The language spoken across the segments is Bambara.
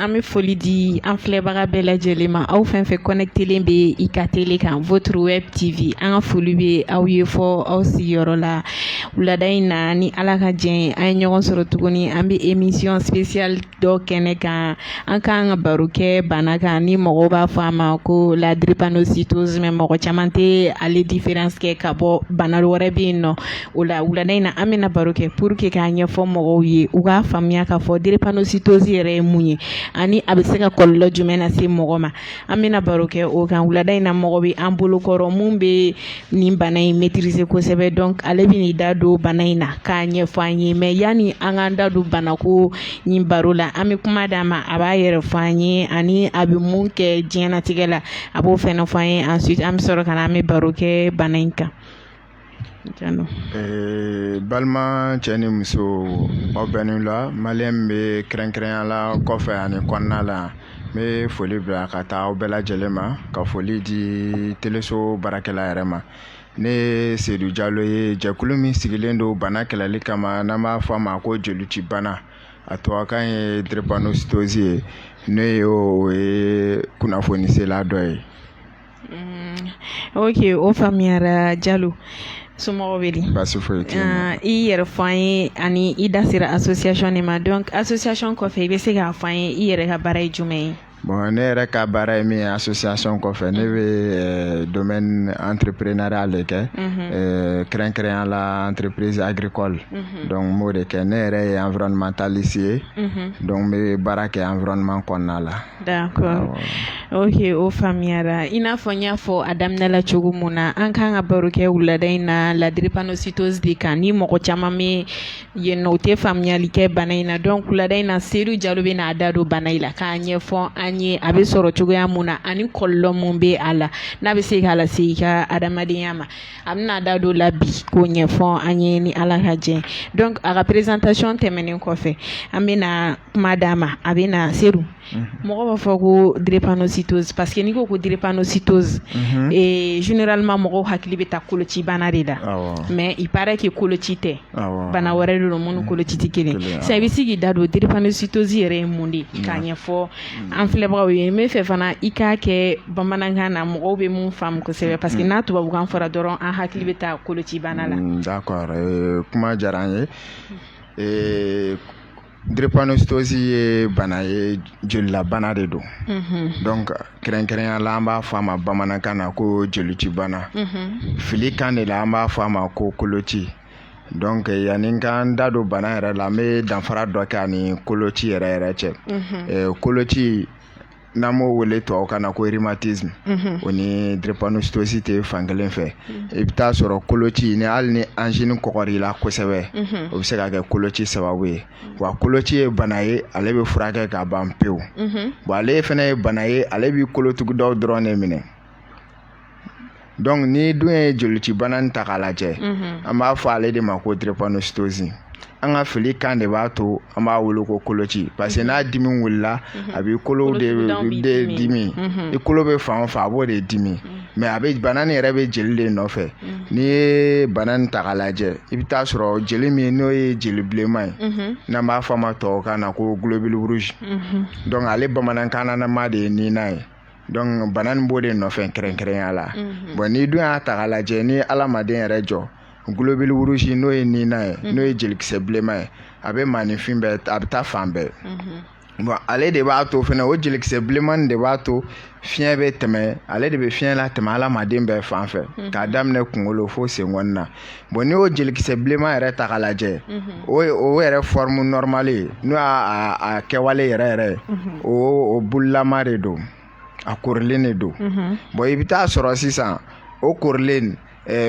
an bɛ foli di an filɛbaga bɛɛ lajɛlen ma aw fɛn fɛn kɔnɛkitelen bɛ i ka tele kan votre web TV an ka foli bɛ aw ye fo aw sigiyɔrɔ la wulada in na ni ala ka jɛ an ye ɲɔgɔn sɔrɔ tuguni an bɛ emisiyɔn sipesiyali dɔ kɛnɛ kan an k'an ka baro kɛ bana kan ni mɔgɔw b'a fɔ a ma ko ladiripanositozi mɛ mɔgɔ caman tɛ ale diferansi kɛ ka bɔ bana wɛrɛ bɛ yen nɔ o la wulada in na an bɛna baro kɛ puruke k'a ɲɛfɔ mɔgɔw ye u k'a faamuya k'a fɔ diripanositozi yɛrɛ ye mun ye ani a bɛ se ka kɔlɔlɔ jumɛn lase mɔgɔ ma an bɛna baro kɛ o kan wulada in na mɔgɔ bɛ an bolokɔrɔ min bɛ nin bana in mɛtirize kosɛbɛ dɔnku ale bɛn'i da don bana in na k'a ɲɛfɔ an ye mɛ yanni an k'an da don banako nin baro la an bɛ kuma d'a ma a b'a yɛrɛ fɔ an ye ani a bɛ mun kɛ diɲɛnatigɛ la a b'o fɛnɛ fɔ an ye ensuite an bɛ sɔrɔ ka na an bɛ baro kɛ bana in kan ee, balima cɛ ni muso aw bɛnnen la maliyɛn bɛɛ kɛrɛnkɛrɛnya la kɔfɛ ani kɔnɔna la n bɛ foli bila ka taa aw bɛɛ lajɛlen ma ka foli di teleso baarakɛla yɛrɛ ma ne ye sedu jalo ye jɛkulu min sigilen don bana kɛlɛli kama n'an b'a fɔ a ma ko jolici bana a tubabukan ye drépanocytose ye ne ye o ye kunnafonisela dɔ ye oke o faamuyara jalo somɔgɔw bɛ baasi i yɛrɛ fɔ an ye ani i da sera association nin ma dɔnku association kɔfɛ i bɛ se k'a fɔ an ye i yɛrɛ ka baara ye jumɛn ye bɔn ne yɛrɛ ka baara ye min ye association kɔfɛ ne bɛ domaine entrepreneurial de kɛ kɛrɛnkɛrɛnya la entreprise agricole dɔnku n b'o de kɛ ne yɛrɛ ye environnementaliste ye dɔnku n bɛ baara kɛ environnement kɔnɔna la D'accord oke o faamuyara i n'a fɔ n y'a fɔ a daminɛla cogo min na an k'an ka baro kɛ wulada in na la drépanocytose de kan ni mɔgɔ caman bɛ yen o tɛ faamuyali kɛ bana in na dɔnku wulada in na sedu jalo bɛn'a da don bana in la k'a ɲɛfɔ an ye a bɛ sɔrɔ cogoya min na ani kɔlɔlɔ min bɛ a la n'a bɛ se k'a lase i ka adamadenya ma A bɛn'a da don a la bi k'o ɲɛfɔ an ye ni ala ka jɛ dɔnku a ka présentation tɛmɛnen kɔfɛ an bɛna na kuma d'a ma a bɛna se mɔgɔ b'a fɔ ko drépanocytose parce que n'i ko ko drépanocytose généralement mɔgɔw hakili bɛ taa koloci bana de la mɛ i baara kɛ koloci tɛ bana wɛrɛ don min ni koloci tɛ kelen sa i bɛ se k'i da don drépanocytose yɛrɛ ye mun de k'a ɲɛfɔ an filɛbagaw ye n b'a fɛ fana i k'a kɛ bamanankan na mɔgɔw bɛ min faamu kosɛbɛ parce que n'a tubabukan fɔra dɔrɔn an hakili bɛ taa kolocibana la. Mm, d'accord euh, kuma diyara an ye. Euh, drépanocytose ye bana ye jelilabana de don mhm. donc kɛrɛnkɛrɛnya la an b'a fɔ a ma bamanankan na ko jelici bana mhm. fili kan de la an b'a fɔ a ma ko koloci donc yanni n k'an da don bana yɛrɛ la n bɛ danfara dɔ kɛ ani koloci yɛrɛ yɛrɛ cɛ eh, koloci n'an b'o wele tubabukan na ko rhumatisme o ni drépanocytose tɛ fan kelen fɛ i bɛ taa sɔrɔ koloci ni hali ni angine kɔgɔr'i la kosɛbɛ o bɛ se ka kɛ koloci sababu ye wa koloci ye bana ye ale bɛ furakɛ ka ban pewu bon ale fɛnɛ ye bana ye ale b'i kolotugudaw dɔrɔn de minɛ donc n'i dun ye jelicibana in ta k'a lajɛ an b'a fɔ ale de ma ko drépanocytose an ka fili kan de b'a to an b'a wele ko koloci parce que n'a dimi wulila a b'i kolo de de dimi i kolo bɛ fan o fan a b'o de dimi mais a bɛ bana nin yɛrɛ bɛ jeli de nɔfɛ n'i ye bana nin ta k'a lajɛ i bɛ taa sɔrɔ jeli min n'o ye jeli bilenman ye n'an b'a fɔ a ma tubabukan na ko globule rouge donc ale bamanankan nama de ye nina ye donc bana nin b'o de nɔfɛ kɛrɛnkɛrɛnya la mhm. bɔn n'i dun y'a ta ka lajɛ ni alamaden yɛrɛ jɔ globule rouge n'o ye nina ye mhm. n'o ye jelikisɛ bilenma ye a bɛ maaninfin bɛɛ a bɛ taa fan bɛɛ mhm. bɔn ale de b'a to fɛnɛ o jelikisɛ bilenmani de b'a to fiɲɛ bɛ tɛmɛ ale de bɛ fiɲɛ latɛmɛ alamaden bɛɛ fan fɛ k'a daminɛ kungolo fo senkɔni na bɔn n'i y'o jelikisɛ bilenman yɛrɛ ta ka lajɛ o o yɛrɛ forme normale ye n'o y'a kɛwale yɛrɛ yɛrɛ ye o o boulelama de don a korilen de don bɔn i bɛ taa sɔrɔ sisan o korilen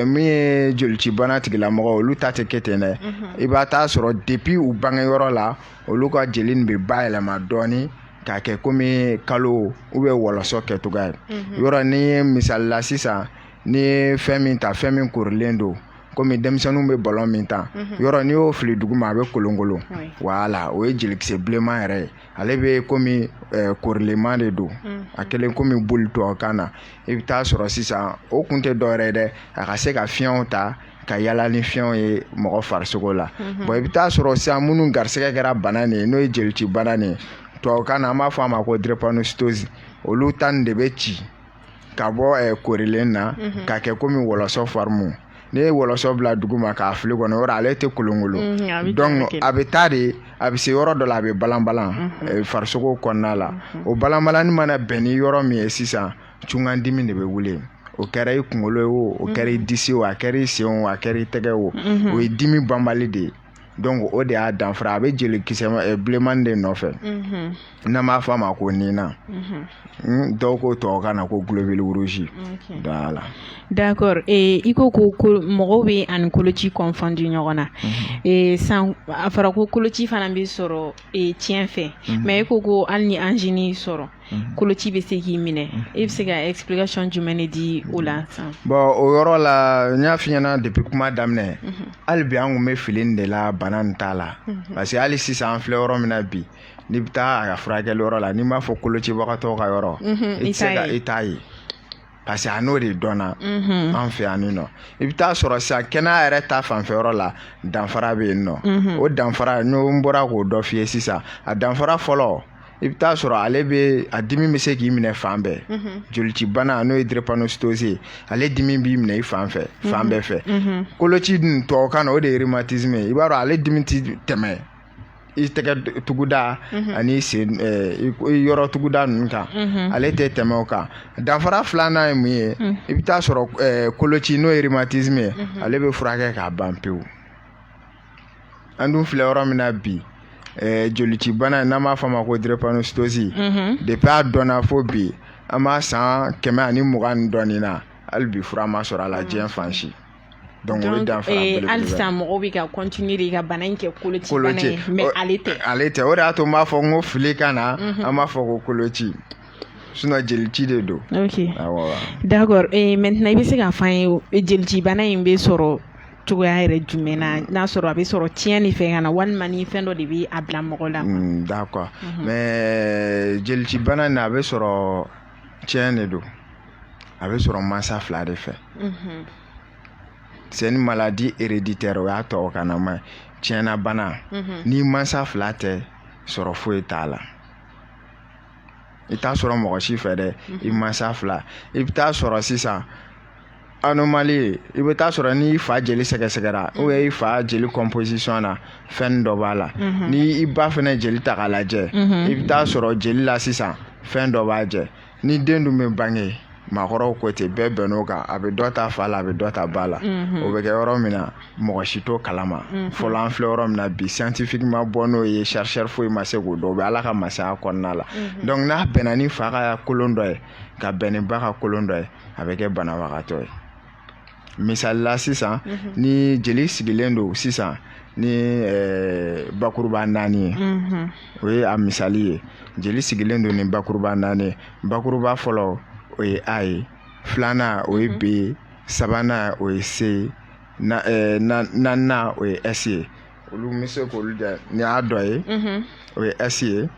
min ye jelicibana tigilamɔgɔ olu ta tɛ kɛ ten dɛ i b'a t'a sɔrɔ depuis u bange yɔrɔ la olu ka jeli bɛ bayɛlɛma dɔɔnini k'a kɛ komi kalo u bɛ wɔlɔsɔ kɛcogo ye yɔrɔ ni ye misali la sisan n'i ye fɛn min ta fɛn min korilen don komi denmisɛnninw bɛ balon min ta mhm. yɔrɔ n'i y'o fili dugu ma a bɛ kolonkolon voilà o ye jelikisɛ bilenman yɛrɛ ye ale bɛ komi eh, korilenman de don mhm. a kɛlen komi boule tubabukan na i bɛ taa sɔrɔ sisan o kun tɛ dɔwɛrɛ ye dɛ a ka se ka fiɲɛw ta ka yala ni fiɲɛw ye mɔgɔ farisogo la mhm. bɔn i bɛ taa sɔrɔ sisan minnu garisɛgɛ kɛra bana nin ye n'o ye jelici bana nin ye tubabukan na an b'a fɔ a ma ko drépanocytose olu ta nin de bɛ ci ka bɔ eh, korilen na mhm. ka kɛ komi wɔlɔsɔ forme n'i ye wɔlɔsɔ bila dugu ma k'a fili kɔnɔ yɔrɔ ale tɛ kolonkolon mhm, donc a bɛ taa de a bɛ se yɔrɔ dɔ la a bɛ balanbalan mhm. eh, farisogo kɔnɔna la o balanbalan nin mana bɛn ni yɔrɔ min ye sisan cungandimi de bɛ wuli o kɛra i kunkolo ye o o kɛra i disi o a kɛra i sen o a kɛra i tɛgɛ o o ye dimi banbali de ye donc o de y'a danfara a bɛ jelikisɛ eh, bilenmani de nɔfɛ mhm. n'an b'a fɔ a ma ko nina mhm. hmm, dɔw ko tubabukan na ko globule rouge voilà d'accord eh, i ko ko mɔgɔw b'a ni koloci confondre ɲɔgɔn na mhm. eh, san a fɔra ko koloci fana bɛ sɔrɔ tiɲɛ fɛ mais i ko ko hali ni angine y'i sɔrɔ Mhm. koloci bɛ se k'i minɛ mhm. e bɛ se ka explication jumɛn de di o la sisan. bɔn o yɔrɔ la n y'a f'i ɲɛna depuis kuma daminɛ mhm. hali bi an kun bɛ fili nin de la bana nin ta la parce que hali sisan an filɛ yɔrɔ min na bi n'i bɛ taa a ka furakɛli yɔrɔ la n'i m'a fɔ kolocibagatɔw ka yɔrɔ i tɛ se ka i t'a ye. parce que a n'o de dɔnna mhm. an fɛ yan nɔ i bɛ t'a sɔrɔ sisan kɛnɛya yɛrɛ ta fanfɛyɔrɔ la danfara bɛ yen nɔ mhm. o danfara n'o n bɔra k'o dɔ f'i ye sisan a danfara fɔlɔ i bɛ t'a sɔrɔ ale bɛ a dimi bɛ se k'i minɛ fan bɛɛ mhm. jolicibana n'o ye drepanocytose ye ale dimi b'i minɛ i fan fɛ fan bɛɛ fɛ koloci dun tubabukan na o de ye rhumatisme ye i b'a sɔrɔ ale dimi tɛ tɛmɛ i tɛgɛ tuguda mhm. ani sen eh, yɔrɔ tuguda ninnu kan mhm. ale tɛ tɛmɛ o kan danfara filanan ye mun ye mhm. i bɛ t'a sɔrɔ eh, koloci n'o ye rhumatisme ye ale bɛ furakɛ ka ban pewu an dun filɛ yɔrɔ min na bi eh, jolicibana n'an b'a fɔ a ma ko drepanocytose depuis a dɔnna fo bi an b'a san kɛmɛ ani mugan ni dɔɔnin na hali bi fura ma sɔrɔ a la diɲɛ fan si donc o ye danfara eh, belebele hali sisan mɔgɔw bɛ ka continuer de ka bana in kɛ koloci bana ye mais ale tɛ ale tɛ o de y'a to n b'a fɔ n ko filikan na mhm. an b'a fɔ ko koloci sinon jelici de don ok awɔ d'accord eh, maintenant i bɛ se k'a fɔ an ye eh, jelici bana in bɛ sɔrɔ cogoya yɛrɛ jumɛn na mm. n'a sɔrɔ a bɛ sɔrɔ tiɲɛ de fɛ ka na walima ni fɛn dɔ de bɛ a bila mɔgɔ la mm, d'accord mhm. mais jelici bana in a bɛ sɔrɔ tiɲɛ de don a bɛ sɔrɔ mansa fila de fɛ c'est une maladie héréditaire o y'a tubabukan na mais tiɲɛna bana n'i mansa fila tɛ sɔrɔ foyi t'a la i t'a sɔrɔ mɔgɔ si fɛ dɛ i mansa fila i bɛ t'a sɔrɔ sisan anomalie i bɛ t'a sɔrɔ n'i fa jeli sɛgɛsɛgɛra ou bien i fa jeli composition na fɛn dɔ b'a la mhm. ni i ba fɛnɛ jeli ta k'a lajɛ mhm. i bɛ t'a sɔrɔ jeli la sisan fɛn dɔ b'a jɛ ni den dun bɛ bange maakɔrɔw ko ten bɛɛ bɛnn'o kan a bɛ dɔ ta fa la a bɛ dɔ ta ba la mhm. o bɛ kɛ yɔrɔ min na mɔgɔ si t'o kalama fɔlɔ an filɛ yɔrɔ min na bi scientifique ma bɔ n'o ye chercheur foyi ma se k'o dɔn o bɛ ala ka masaya kɔnɔna la donc n'a bɛnna ni fa ka kolon dɔ ye ka bɛn ni ba ka kolon dɔ ye a bɛ kɛ banabagatɔ ye misalila sisan mhm. ni jeli sigilen don sisan ni eh, bakuruba naani ye mhm. o ye a misali ye jeli sigilen don ni bakuruba naani ye bakuruba fɔlɔ o ye a ye filanan o ye mhm. b ye sabanan o ye c ye eh, naaninan o ye s ye olu bɛ se k'olu da ni y'a dɔ ye o ye s ye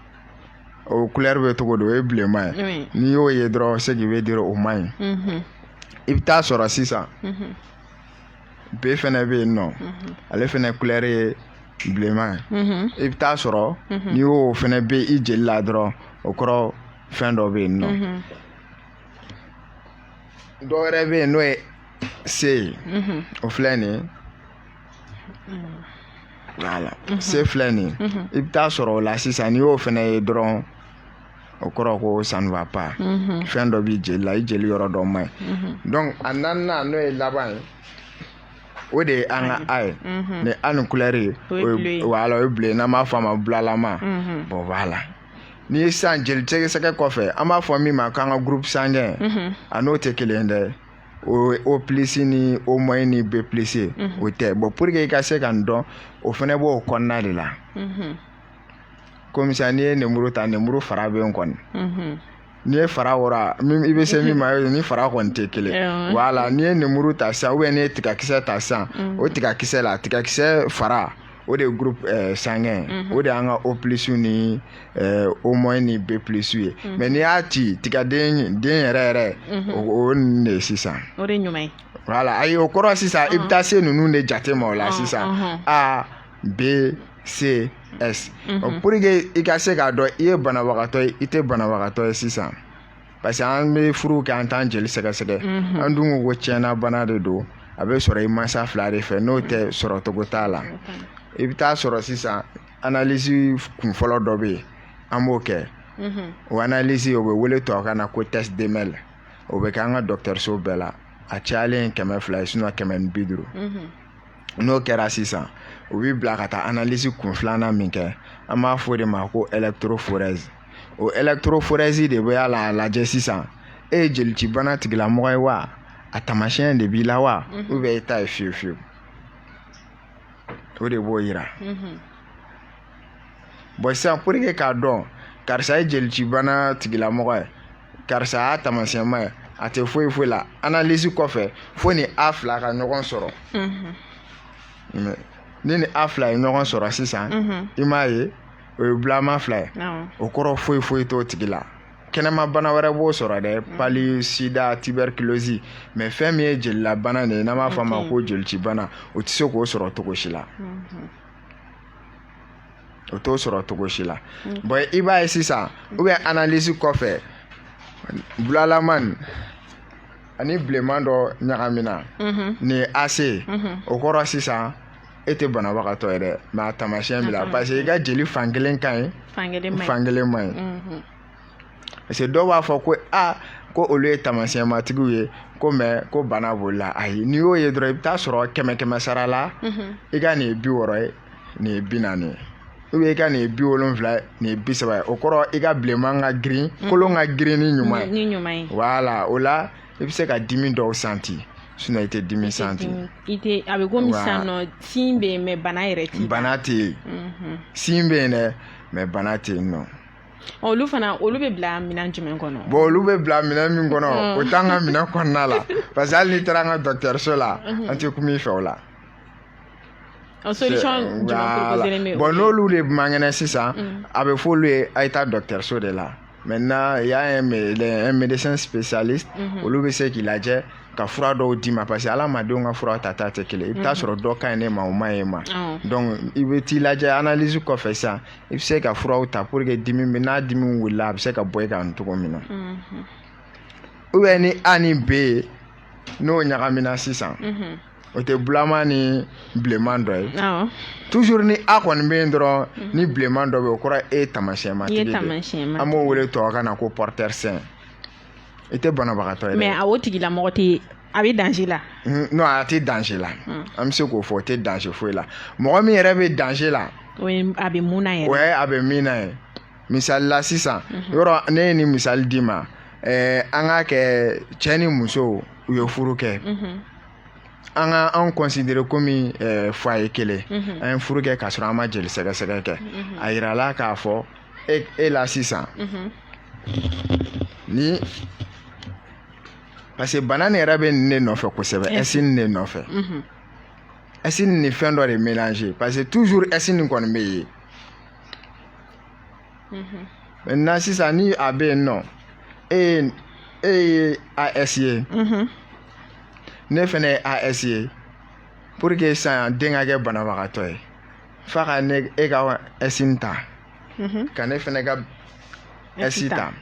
o kulɛre bɛ cogo don o ye bilenma ye n'i y'o ye dɔrɔn ça veut dire o man ɲi i bɛ taa sɔrɔ sisan B fana bɛ yen nɔ ale fana kulɛre ye bilenma ye i bɛ taa sɔrɔ n'i y'o fana bɛ i jeli la dɔrɔn o kɔrɔ fɛn dɔ bɛ yen nɔ dɔ wɛrɛ bɛ yen n'o ye C ye o filɛ nin ye wala mhm. C filɛ nin ye mhm. i bɛ taa sɔrɔ o la sisan n'i y'o fana ye dɔrɔn o kɔrɔ ko ça ne va pas mhm. fɛn dɔ b'i jeli la i jeli yɔrɔ dɔ man ɲi donc a naaninan n'o ye laban ye o de ye an ka a ye ni an ni kulɛri ye wala o ye bleu n'an b'a fɔ a ma bulalama bɔn wala n'i ye sisan jeli sɛgɛsɛgɛ kɔfɛ an b'a fɔ min ma k'an ka groupe sanguin a n'o tɛ kelen dɛ o O plus ni O moins ni B plus o tɛ bɔn pour que i ka se ka nin dɔn o fana b'o kɔnɔna de la komi sisan n'i ye nemuru ta nemuru fara bɛ yen kɔni n'i ye fara wɔrɔ i bɛ se min ma ni fara kɔni tɛ kelen wala n'i ye nemuru ta sisan ou bien n'i ye tigakisɛ ta sisan o tigakisɛ la tigakisɛ fara o de ye groupe eh, sanguin mhm. o de y'an ka O plus ni eh, O moins ni B plus ye mhm. mais n'i y'a ci tigaden den yɛrɛ yɛrɛ mhm. o nin de ye sisan o de ɲuman ye voilà ayi o kɔrɔ sisan i bɛ taa se ninnu de jate ma o la sisan A B C S pour que i ka se k'a dɔn i ye banabagatɔ ye i tɛ banabagatɔ ye sisan parce que an bɛ furu kɛ an t'an jeli sɛgɛsɛgɛ an dun ko ko ciyɛnna bana de don a bɛ sɔrɔ i mansa fila de fɛ n'o tɛ sɔrɔ cogo t'a la i bɛ taa sɔrɔ sisan analyse kun fɔlɔ dɔ bɛ yen an b'o kɛ o analyse o bɛ wele tubabukan na ko test d'Emmel o bɛ kɛ an ka dɔgɔtɔrɔso bɛɛ la a cayalen kɛmɛ fila ye sinɔn kɛmɛ ni bi duuru n'o kɛra sisan u b'i bila ka taa analyse kun filanan min kɛ an b'a fɔ o de ma ko electrophorèse o electrophorèse de bɛ a la a lajɛ sisan e ye jelicibana tigilamɔgɔ ye wa a taamasiyɛn de b'i la wa mhm. ou bien e ta ye fiyewu fiyewu o de b'o yira mhm. bɔn sisan pour que k'a dɔn karisa ye jelicibana tigilamɔgɔ ye karisa y'a taamasiyɛnma ye a tɛ foyi foyi la analyse kɔfɛ fo ni a fila ka ɲɔgɔn sɔrɔ mhm. ni ni a fila ye ɲɔgɔn sɔrɔ sisan i m'a ye o ye bulama fila ye o kɔrɔ foyi foyi t'o tigi la kɛnɛma bana wɛrɛ b'o sɔrɔ dɛ mm. palu sida tuberculose mais fɛn min ye jelilabana nin ye n'an b'a fɔ a ma ko jelicibana o tɛ se k'o sɔrɔ cogo si la mm-hmm. o t'o sɔrɔ cogo si la mm. bon i b'a ye sisan mm. ou bien analyse kɔfɛ bulalaman ani bilenman dɔ ɲagamina mm-hmm. nin ye ac mm-hmm. o kɔrɔ sisan e tɛ banabagatɔ ye dɛ mais a tamasiyɛn b'i la parce que i ka jeli fan kelen ka ɲi fan kelen ma ɲi mhm. parce que dɔw b'a fɔ ko a ko olu ye tamasiyɛnmatigiw ye ko mɛ ko bana b'olu la ayi n'i y'o ye dɔrɔn i bɛ t'a sɔrɔ kɛmɛ kɛmɛ sara la mhm. i ka nin ye bi wɔɔrɔ ye nin ye bi naani ye ou bien i ka nin ye bi wolonfila ye nin ye bi saba ye o kɔrɔ i ka bilenman ka girin mhm. kolon ka girin ni ɲuman ye voilà o la i bɛ se ka dimi dɔw santi sinon i tɛ dimi santi i tɛ a bɛ komi sisan nɔ signe bɛ yen mais bana yɛrɛ tɛ yen bana tɛ yen mhm. signe bɛ yen dɛ mais bana tɛ yen nɔ olu fana olu bɛ bila minɛn jumɛn kɔnɔ bon olu bɛ bila minɛn min kɔnɔ mm. o t'an ka minɛn kɔnɔna la parce que hali n'i taara an ka dɔgɔtɔrɔso la mhm. an tɛ kuma i fɛ o la bon n'olu de man kɛnɛ sisan mm. a bɛ f'olu ye a ye taa dɔgɔtɔrɔso de la maintenant il y a un, un médecin spécialiste mhm. olu bɛ se k'i lajɛ ka fura dɔw d'i ma parce que adamadenw ka fura tata tɛ kelen i bɛ t'a mhm. sɔrɔ dɔ ka ɲi ne ma o man ɲi e ma donc i bɛ t'i lajɛ analyse kɔfɛ sisan i bɛ se ka furaw ta pour que dimi bɛ n'a dimi wulila a bɛ se ka bɔ i kan cogo min na mhm. ou bien ni a ni b ye n'o ɲagamina sisan o tɛ bulama ni bilenman dɔ ye toujours ni a kɔni bɛ yen dɔrɔn ni bilenman dɔ bɛ o kɔrɔ e tamasiyɛnma an b'o wele tubabukan na ko porteur sain i tɛ banabagatɔ ye mais a o tigilamɔgɔ tɛ a bɛ danger la non a tɛ danger la an bɛ se k'o fɔ o tɛ danger foyi la mɔgɔ min yɛrɛ bɛ danger la a bɛ mun a bɛ min ye misali la sisan yɔrɔ ne ye nin misali d'i ma eh, an k'a kɛ cɛ ni muso u ye furu kɛ an ka anw considérer komi eh, foyer kelen an ye furu kɛ k'a sɔrɔ an ma jeli sɛgɛsɛgɛ kɛ a yirala k'a fɔ e, e la sisan ni parce que bana nin yɛrɛ bɛ nin de nɔfɛ kosɛbɛ ɛsi nin de nɔfɛ ɛsi nin ni fɛn dɔ de mélange parce que toujours ɛsi nin kɔni bɛ yen mhm. na sisan ni a bɛ yen nɔ e ye e ye as ye mhm. ne fana ye as ye pour que sisan den ka kɛ banabagatɔ ye f'a ka na e ka ɛsi ta mhm. ka ne fana ka ɛsi ta.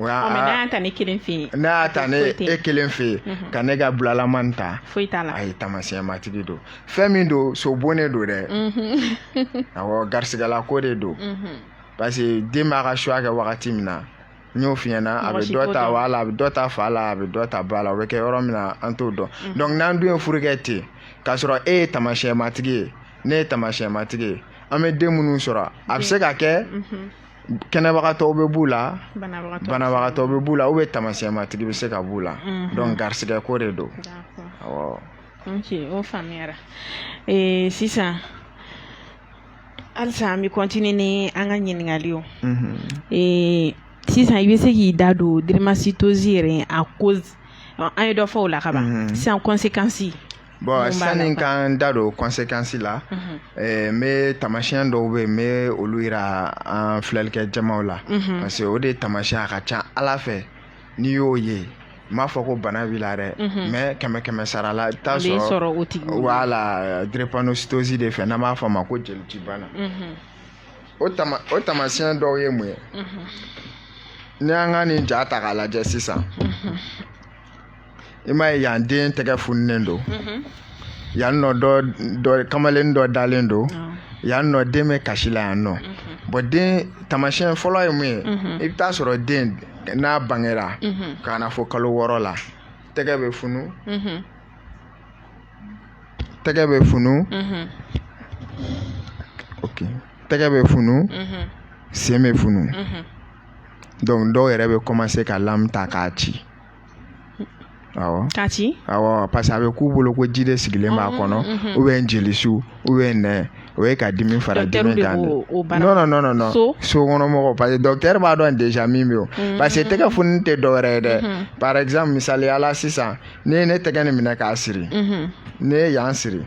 N'a ta ne kelen fɛ n'a ta ne e kelen fɛ yen ka ne ka bilalama ta foyi t'a a ye tamasiyɛn matigi don fɛn min don so bonnen don dɛ a garisigɛ la ko de don parce que den b'a ka choix kɛ wagati min na n y'o f'i ɲɛna a bɛ dɔ ta a la a bɛ dɔ ta fa la a bɛ dɔ ta ba la o bɛ kɛ yɔrɔ min na an t'o dɔn donc n'an dun ye furu kɛ ten k'a sɔrɔ e ye tamasiyɛn matigi ye ne ye tamasiyɛn matigi ye an bɛ den minnu sɔrɔ a bɛ se ka kɛ kɛnɛbagatɔw bɛ b'u la banabagatɔ bɛ b'u la u bɛ tamasiyɛnmatigi bɛ se ka b'u la mhm. donc garisigɛ ko de don o faamuyayara sisan halisa an bɛ kɔntini ni an ka ɲininkali ye mhm. sisan i bɛ se k'i da don drépanocytose yɛrɛ a cause an ye dɔ f'o la ka ban mhm. sisan kɔnsekansi bɔn sanni k'an da don kɔnsekansi la n bɛ tamasiyɛn dɔw bɛ yen n bɛ olu jira an filɛlikɛ jamaw la parce que o de tamasiyɛn a ka ca a la fɛ n'i y'o ye n b'a fɔ ko bana b'i la dɛ mais kɛmɛkɛmɛsara la i t'a sɔrɔ voilà drépanocytose de fɛ n'an b'a fɔ a ma ko jelici bana o o tamasiyɛn dɔw ye mun ye n'i y'an ka nin ja ta k'a lajɛ sisan i m'a ye yan den tɛgɛ fununen don mhm. yan nɔ dɔ dɔ kamalen dɔ dalen don yan nɔ den bɛ kasi la yan nɔ mhm. bɔn den tamasiyɛn fɔlɔ ye mun ye mhm. i bɛ taa sɔrɔ den n'a bangera ka na fɔ kalo wɔɔrɔ la tɛgɛ bɛ funu tɛgɛ bɛ funu ok tɛgɛ bɛ funu sen bɛ funu donc dɔw yɛrɛ bɛ kɔmanse ka lamu ta k'a ci awɔ k'a ci awɔ parce que a bɛ k'u bolo ko ji de sigilen b'a kɔnɔ ou bien jelisu ou bien nɛn o ye ka dimi fara dimi kan dɛ non non non non sokɔnɔmɔgɔ parce que docteur b'a dɔn déjà min bɛ yen parce que tɛgɛ fununi tɛ dɔwɛrɛ ye dɛ par exemple misaliya la sisan ne ye ne tɛgɛ nin minɛ k'a siri ne ye yan siri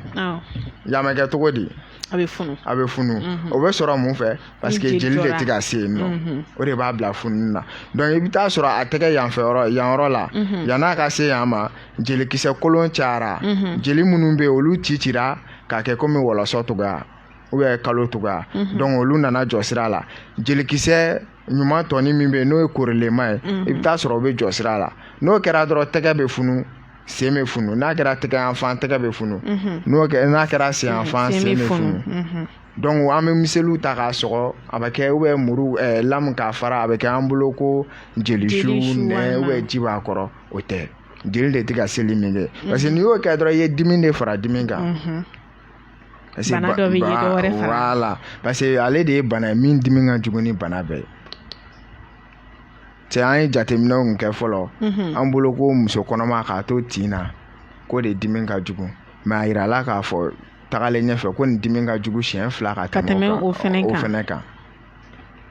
yan bɛ kɛ cogo di a bɛ funu a bɛ funu mhm. o bɛ sɔrɔ mun fɛ parce que jeli de tɛ ka se yen nɔ mhm. o de b'a bila fununi na donc i bɛ taa sɔrɔ a tɛgɛ yanfɛ yɔrɔ yan yɔrɔ la mhm. yann'a ka se yan ma jelikisɛ kolon cayara jeli minnu bɛ yen olu cicira k'a kɛ komi wɔlɔsɔ cogoya ou bien kalo cogoya donc olu nana jɔ sira la jelikisɛ ɲuman tɔni min bɛ yen n'o ye korilenman ye i bɛ taa sɔrɔ o bɛ jɔ sira la n'o kɛra dɔrɔn tɛgɛ bɛ funu sen bɛ funu n'a kɛra tɛgɛ yan fan tɛgɛ bɛ funu mhm. n'o n'a kɛra sen yan fan sen bɛ funu mhm. donc an bɛ miseliw ta k'a sɔgɔ a bɛ kɛ ou bien muru eh, lamu k'a fara a bɛ kɛ an bolo ko jelisu nɛn ou bien ji b'a kɔrɔ o tɛ jeli de tɛ ka seli min kɛ mhm. parce que n'i y'o kɛ dɔrɔn i ye dimi de fara dimi kan. bana dɔ bɛ yen dɔ wɛrɛ fara. voilà parce que ale de ye bana ye min dimi ka jugu ni bana bɛɛ ye. cɛ an ye jateminɛw kun kɛ fɔlɔ mhm. an bolo ko muso kɔnɔma k'a to tin na k'o de dimi ka jugu mais a yirala k'a fɔ tagalen ɲɛfɛ ko nin dimi ka jugu siɲɛ fila ka tɛmɛ o fɛnɛ kan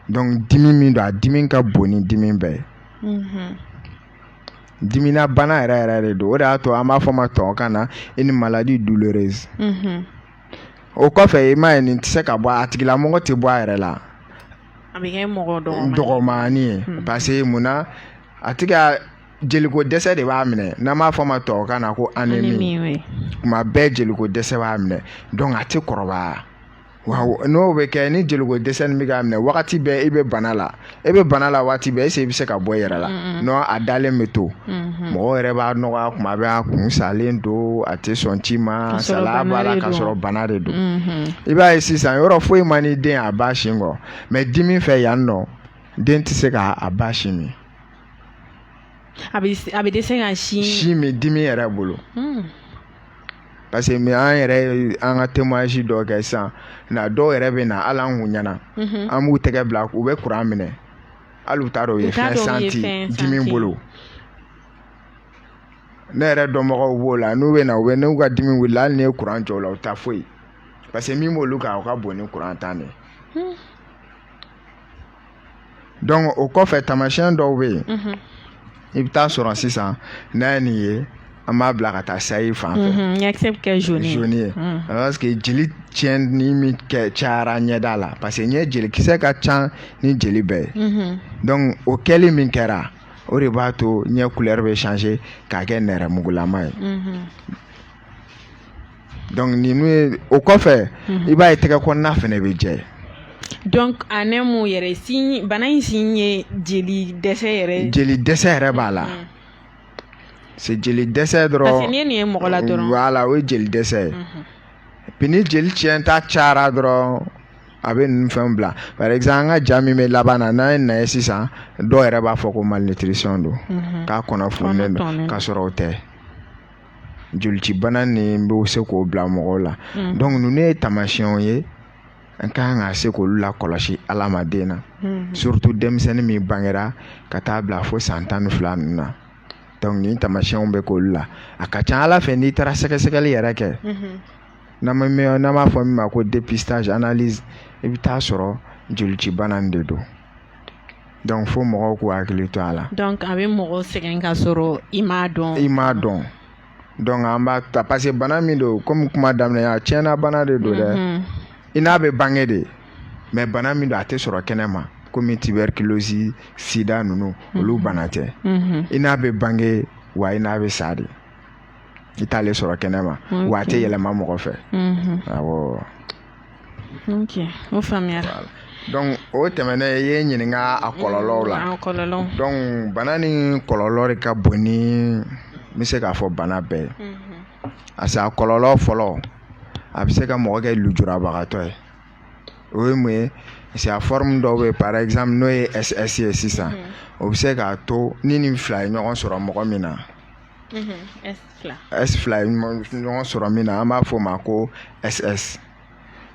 donc dimi min don a dimi ka bon ni dimi bɛɛ ye mhm. dimina bana yɛrɛ yɛrɛ de don o de y'a to an b'a fɔ a ma tubabukan na une maladie douloureuse mhm. o kɔfɛ i m'a ye nin tɛ se ka bɔ a tigilamɔgɔ tɛ bɔ a yɛrɛ la a bɛ kɛ mɔgɔ dɔgɔmani ye hmm. parce que mun na a tigi ka jeliko dɛsɛ de b'a minɛ n'an b'a fɔ a ma tubabukan na ko anémie kuma bɛɛ jeliko dɛsɛ b'a minɛ donc a tɛ kɔrɔbaya wa n'o bɛ kɛ ni jeliko dɛsɛ nin bɛ k'a minɛ wagati bɛɛ e bɛ bana la e bɛ bana la waati bɛɛ est-ce i bɛ se ka bɔ i yɛrɛ la non a dalen bɛ to hmm. mɔgɔ yɛrɛ b'a dɔgɔya kuma bɛɛ a kun salen don a tɛ sɔn ci ma salaya b'a la ka sɔrɔ bana de don i b'a ye sisan yɔrɔ foyi man di den a ba sin kɔ mais dimi fɛ yan nɔ den tɛ se ka a ba sin min a bɛ dɛsɛ ka sin sin min dimi yɛrɛ bolo parce que mais an yɛrɛ an ka témoignage dɔ kɛ sisan na dɔw yɛrɛ bɛ na hali an kun ɲɛna an b'u tɛgɛ bila u bɛ kuran minɛ hali u t'a dɔn u ye fɛn sentir dimi bolo ne yɛrɛ dɔnbagaw b'o la n'u bɛ na u bɛ n'u ka dimi wulila hali n'i ye kuran jɔ u la u t'a foyi parce que min b'olu kan o ka bon ni kuran ta de ye hmm. o kɔfɛ taamasiyɛn dɔw bɛ yen i bɛ taa sɔrɔ sisan n'a ye nin ye an b'a bila ka taa sayi fan fɛ mhm, ɲɛkisɛ bɛ kɛ jaune ye jaune ye mhm. parce que jeli tiɲɛni min kɛ cayara ɲɛda la parce que ɲɛ jelikisɛ ka ca ni jeli bɛɛ ye mhm. donc o kɛli min kɛra o de b'a to ɲɛ couleur bɛ changer k'a kɛ nɛrɛmugulama ye donc ninnu ye o kɔfɛ i b'a ye tɛgɛ kɔnɔna fana bɛ jɛ donc anémie yɛrɛ signe bana in signe ye jeli dɛsɛ yɛrɛ ye jeli dɛsɛ yɛrɛ b'a la c'est jeli dɛsɛ dɔrɔn parce que n'i ye nin ye mɔgɔ la dɔrɔn voilà o ye jeli dɛsɛ ye puis ni jeli tiɲɛta cayara dɔrɔn a bɛ ninnu fɛnw bila par exemple an ka ja min bɛ laban na n'an ye na ye sisan dɔw yɛrɛ b'a fɔ ko malnutrition don k'a kɔnɔ fununen don ka sɔrɔ o tɛ jolicibana nin bɛ se k'o bila mɔgɔw la mm. donc ninnu ye taamasiyɛnw ye an ka kan ka se k'olu lakɔlɔsi adamaden na mm. surtout denmisɛnnin min bangera ka taa bila fo san tan ni fila ninnu na donc nin taamasiyɛnw bɛ k'olu la a ka ca a la fɛ n'i taara sɛgɛsɛgɛli yɛrɛ kɛ mm-hmm. n'an b'a fɔ min ma ko dépistage analyse i bɛ taa sɔrɔ jolicibana de don dɔnku fo mɔgɔw k'u hakili to a la dɔnku a bɛ mɔgɔ sɛgɛn ka sɔrɔ i m'a dɔn i m'a dɔn dɔnku an b'a ta parce que bana min don kɔmi kuma daminɛ a tiɲɛna bana de don dɛ mhm. i n'a bɛ bange de mɛ bana min don a tɛ sɔrɔ kɛnɛ ma komi tuberculose sida ninnu mhm. olu bana tɛ mhm. i n'a bɛ bange wa i n'a bɛ sa de i t'ale sɔrɔ kɛnɛ ma wa a tɛ yɛlɛma mɔgɔ fɛ o faamuyara donc o tɛmɛnen i ye n ɲininka a kɔlɔlɔw la mm, a kɔlɔlɔ donc bana nin kɔlɔlɔ de ka bon ni n bɛ se k'a fɔ bana bɛɛ ye mm-hmm. parce que a kɔlɔlɔ fɔlɔ a bɛ se ka mɔgɔ kɛ lujurabagatɔ ye o ye mun ye parce que a forme dɔw bɛ yen par exemple n'o ye SS ye sisan mm-hmm. o bɛ se k'a to ni nin fila ye ɲɔgɔn sɔrɔ mɔgɔ min na mm-hmm. s fila ye ɲɔgɔn sɔrɔ min na an b'a fɔ o ma ko ss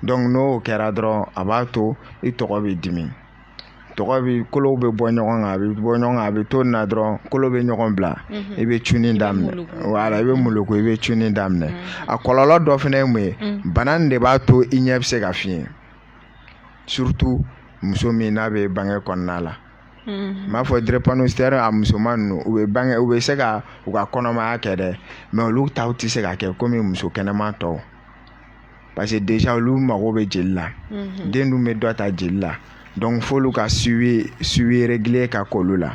dɔnku n'o kɛra dɔrɔn a b'a to i tɔgɔ bɛ dimi tɔgɔ bɛ kolow bɛ bɔ ɲɔgɔn kan a bɛ bɔ ɲɔgɔn kan a bɛ to na dɔrɔn kolo bɛ ɲɔgɔn bila mhm. i bɛ cuni daminɛ wala i bɛ moloko i bɛ cuni daminɛ mhm. a kɔlɔlɔ dɔ fana ye mun ye mhm. bana nin de b'a to i ɲɛ bɛ se ka fiɲɛ surtout muso min n'a bɛ bange kɔnɔna la n b'a fɔ drépanocytaire a musoman ninnu u bɛ bange u bɛ se ka u ka kɔnɔmaya kɛ dɛ mɛ olu ta tɛ se ka kɛ komi muso kɛnɛma tɔw parce que déjà olu mago bɛ jeli la den dun bɛ dɔ ta jeli la dɔnku f'olu ka suivi régulier ka k'olu la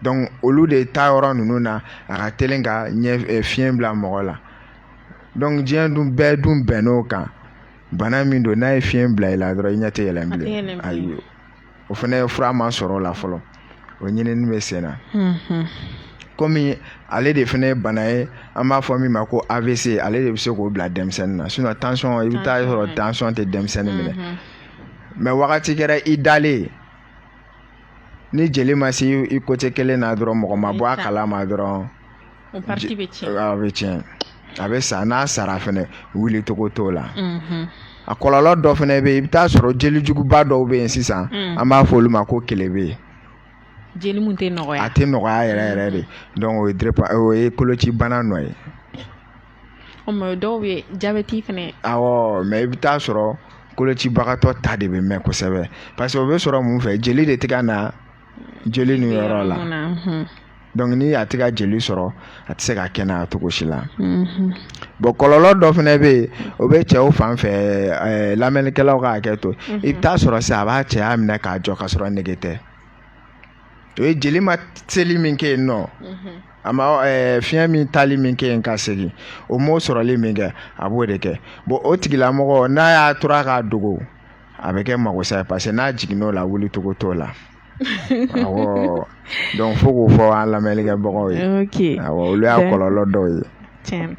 dɔnku olu de ta yɔrɔ ninnu na a ka teli ka ɲɛfiyɛn bila mɔgɔ la dɔnku diɲɛ dun bɛɛ dun bɛnnen o kan bana min don n'a ye fiyɛn bila i la dɔrɔn i ɲɛ tɛ yɛlɛ bilen ayi o fana fura ma sɔrɔ o la fɔlɔ o ɲinini bɛ sen na kɔmi ale de fana ye bana ye an b'a fɔ min ma ko avc ale de bɛ se k'o bila denmisɛnnin na sinɔn tansɔn i bɛ taa sɔrɔ tansɔn tɛ denmisɛnnin minɛ mɛ wagati kɛra i dalen ni jeli ma se i côté kelen na dɔrɔn mɔgɔ ma bɔ a kalama dɔrɔn O partie bɛ tiɲɛ. A bɛ tiɲɛ. A bɛ sa n'a sara fɛnɛ wuli cogo t'o la. Unhun. A kɔlɔlɔ dɔ fɛnɛ bɛ yen, i bɛ taa sɔrɔ jelijuguba dɔw bɛ yen sisan. Un. An b'a fɔ olu ma ko kelebe. Jeli min tɛ nɔgɔya. A tɛ nɔgɔya yɛrɛ yɛrɛ de. Donc o ye drepa o ye kolocibana nɔ ye. O tuma o dɔw bɛ yen jabɛti fɛnɛ. Awɔ mais i bɛ taa sɔrɔ kolocibagatɔ ta de bɛ mɛɛn kosɛbɛ parce que o bɛ sɔrɔ mun fɛ jeli de tɛ ka na jeli nin yɔrɔ la dɔnku ni a tɛ ka jeli sɔrɔ a tɛ se ka kɛnɛya cogo si la mhm. bɔn kɔlɔlɔ dɔ fana bɛ yen o bɛ cɛw fan fɛ eh, lamɛnnikɛlaw ka hakɛ to mhm. i bɛ taa sɔrɔ sisan a b'a cɛya minɛ k'a jɔ ka sɔrɔ nege tɛ o ye jeli ma seli min kɛ yen nɔ mhm. a ma eh, fiɲɛ min taali min kɛ yen ka segin o m'o sɔrɔli min kɛ a b'o de kɛ bɔn o tigilamɔgɔ n'a y'a tora k'a dogo a bɛ kɛ makosa ye parce que n'a jiginn'o la wuli cogo t'o la awɔ donc fo k'o fɔ an lamɛnlikɛbagaw ye ok awɔ olu y'a kɔlɔlɔ dɔw ye tiɲɛ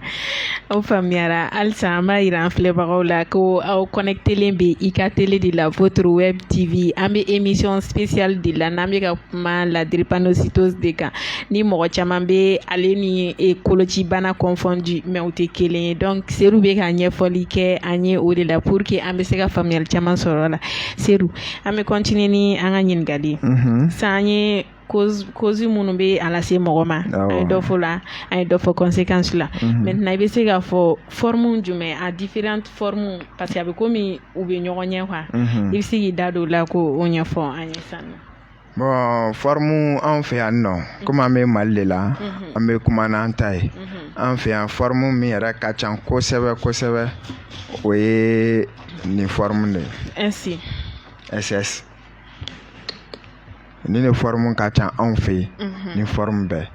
aw faamuyara halisa an b'a jira an filɛbagaw la ko aw kɔnɛkitelen bɛ i ka tele de la votre web tv an bɛ émission spéciale de la n'an bɛ ka kuma la drépanocytose de kan ni mɔgɔ caman bɛ ale ni e kolocibana confondre mais o tɛ kelen ye donc e bɛ ka ɲɛfɔli kɛ an ye o de la pour que an bɛ se ka faamuyali caman sɔrɔ a la se an bɛ continuer ni an ka ɲininkali san ye cause minnu bɛ a lase mɔgɔ ma an ye dɔ fɔ la an ye dɔ fɔ conséquencew la maintenant i bɛ se k'a fɔ forme jumɛn a différentes formes parce que a bɛ komi u bɛ ɲɔgɔn ɲɛ quoi i bɛ se k'i da don o la k'o ɲɛfɔ an ye sa Bon fɔrɔmu an fɛ yan nɔ kɔmi an bɛ mali de la an bɛ kuma n'an ta ye an fɛ yan fɔrɔmu min yɛrɛ ka ca kosɛbɛ kosɛbɛ o ye nin fɔrɔmu de ye SS nin de fɔrɔmu ka ca anw fɛ yen nin fɔrɔmu bɛɛ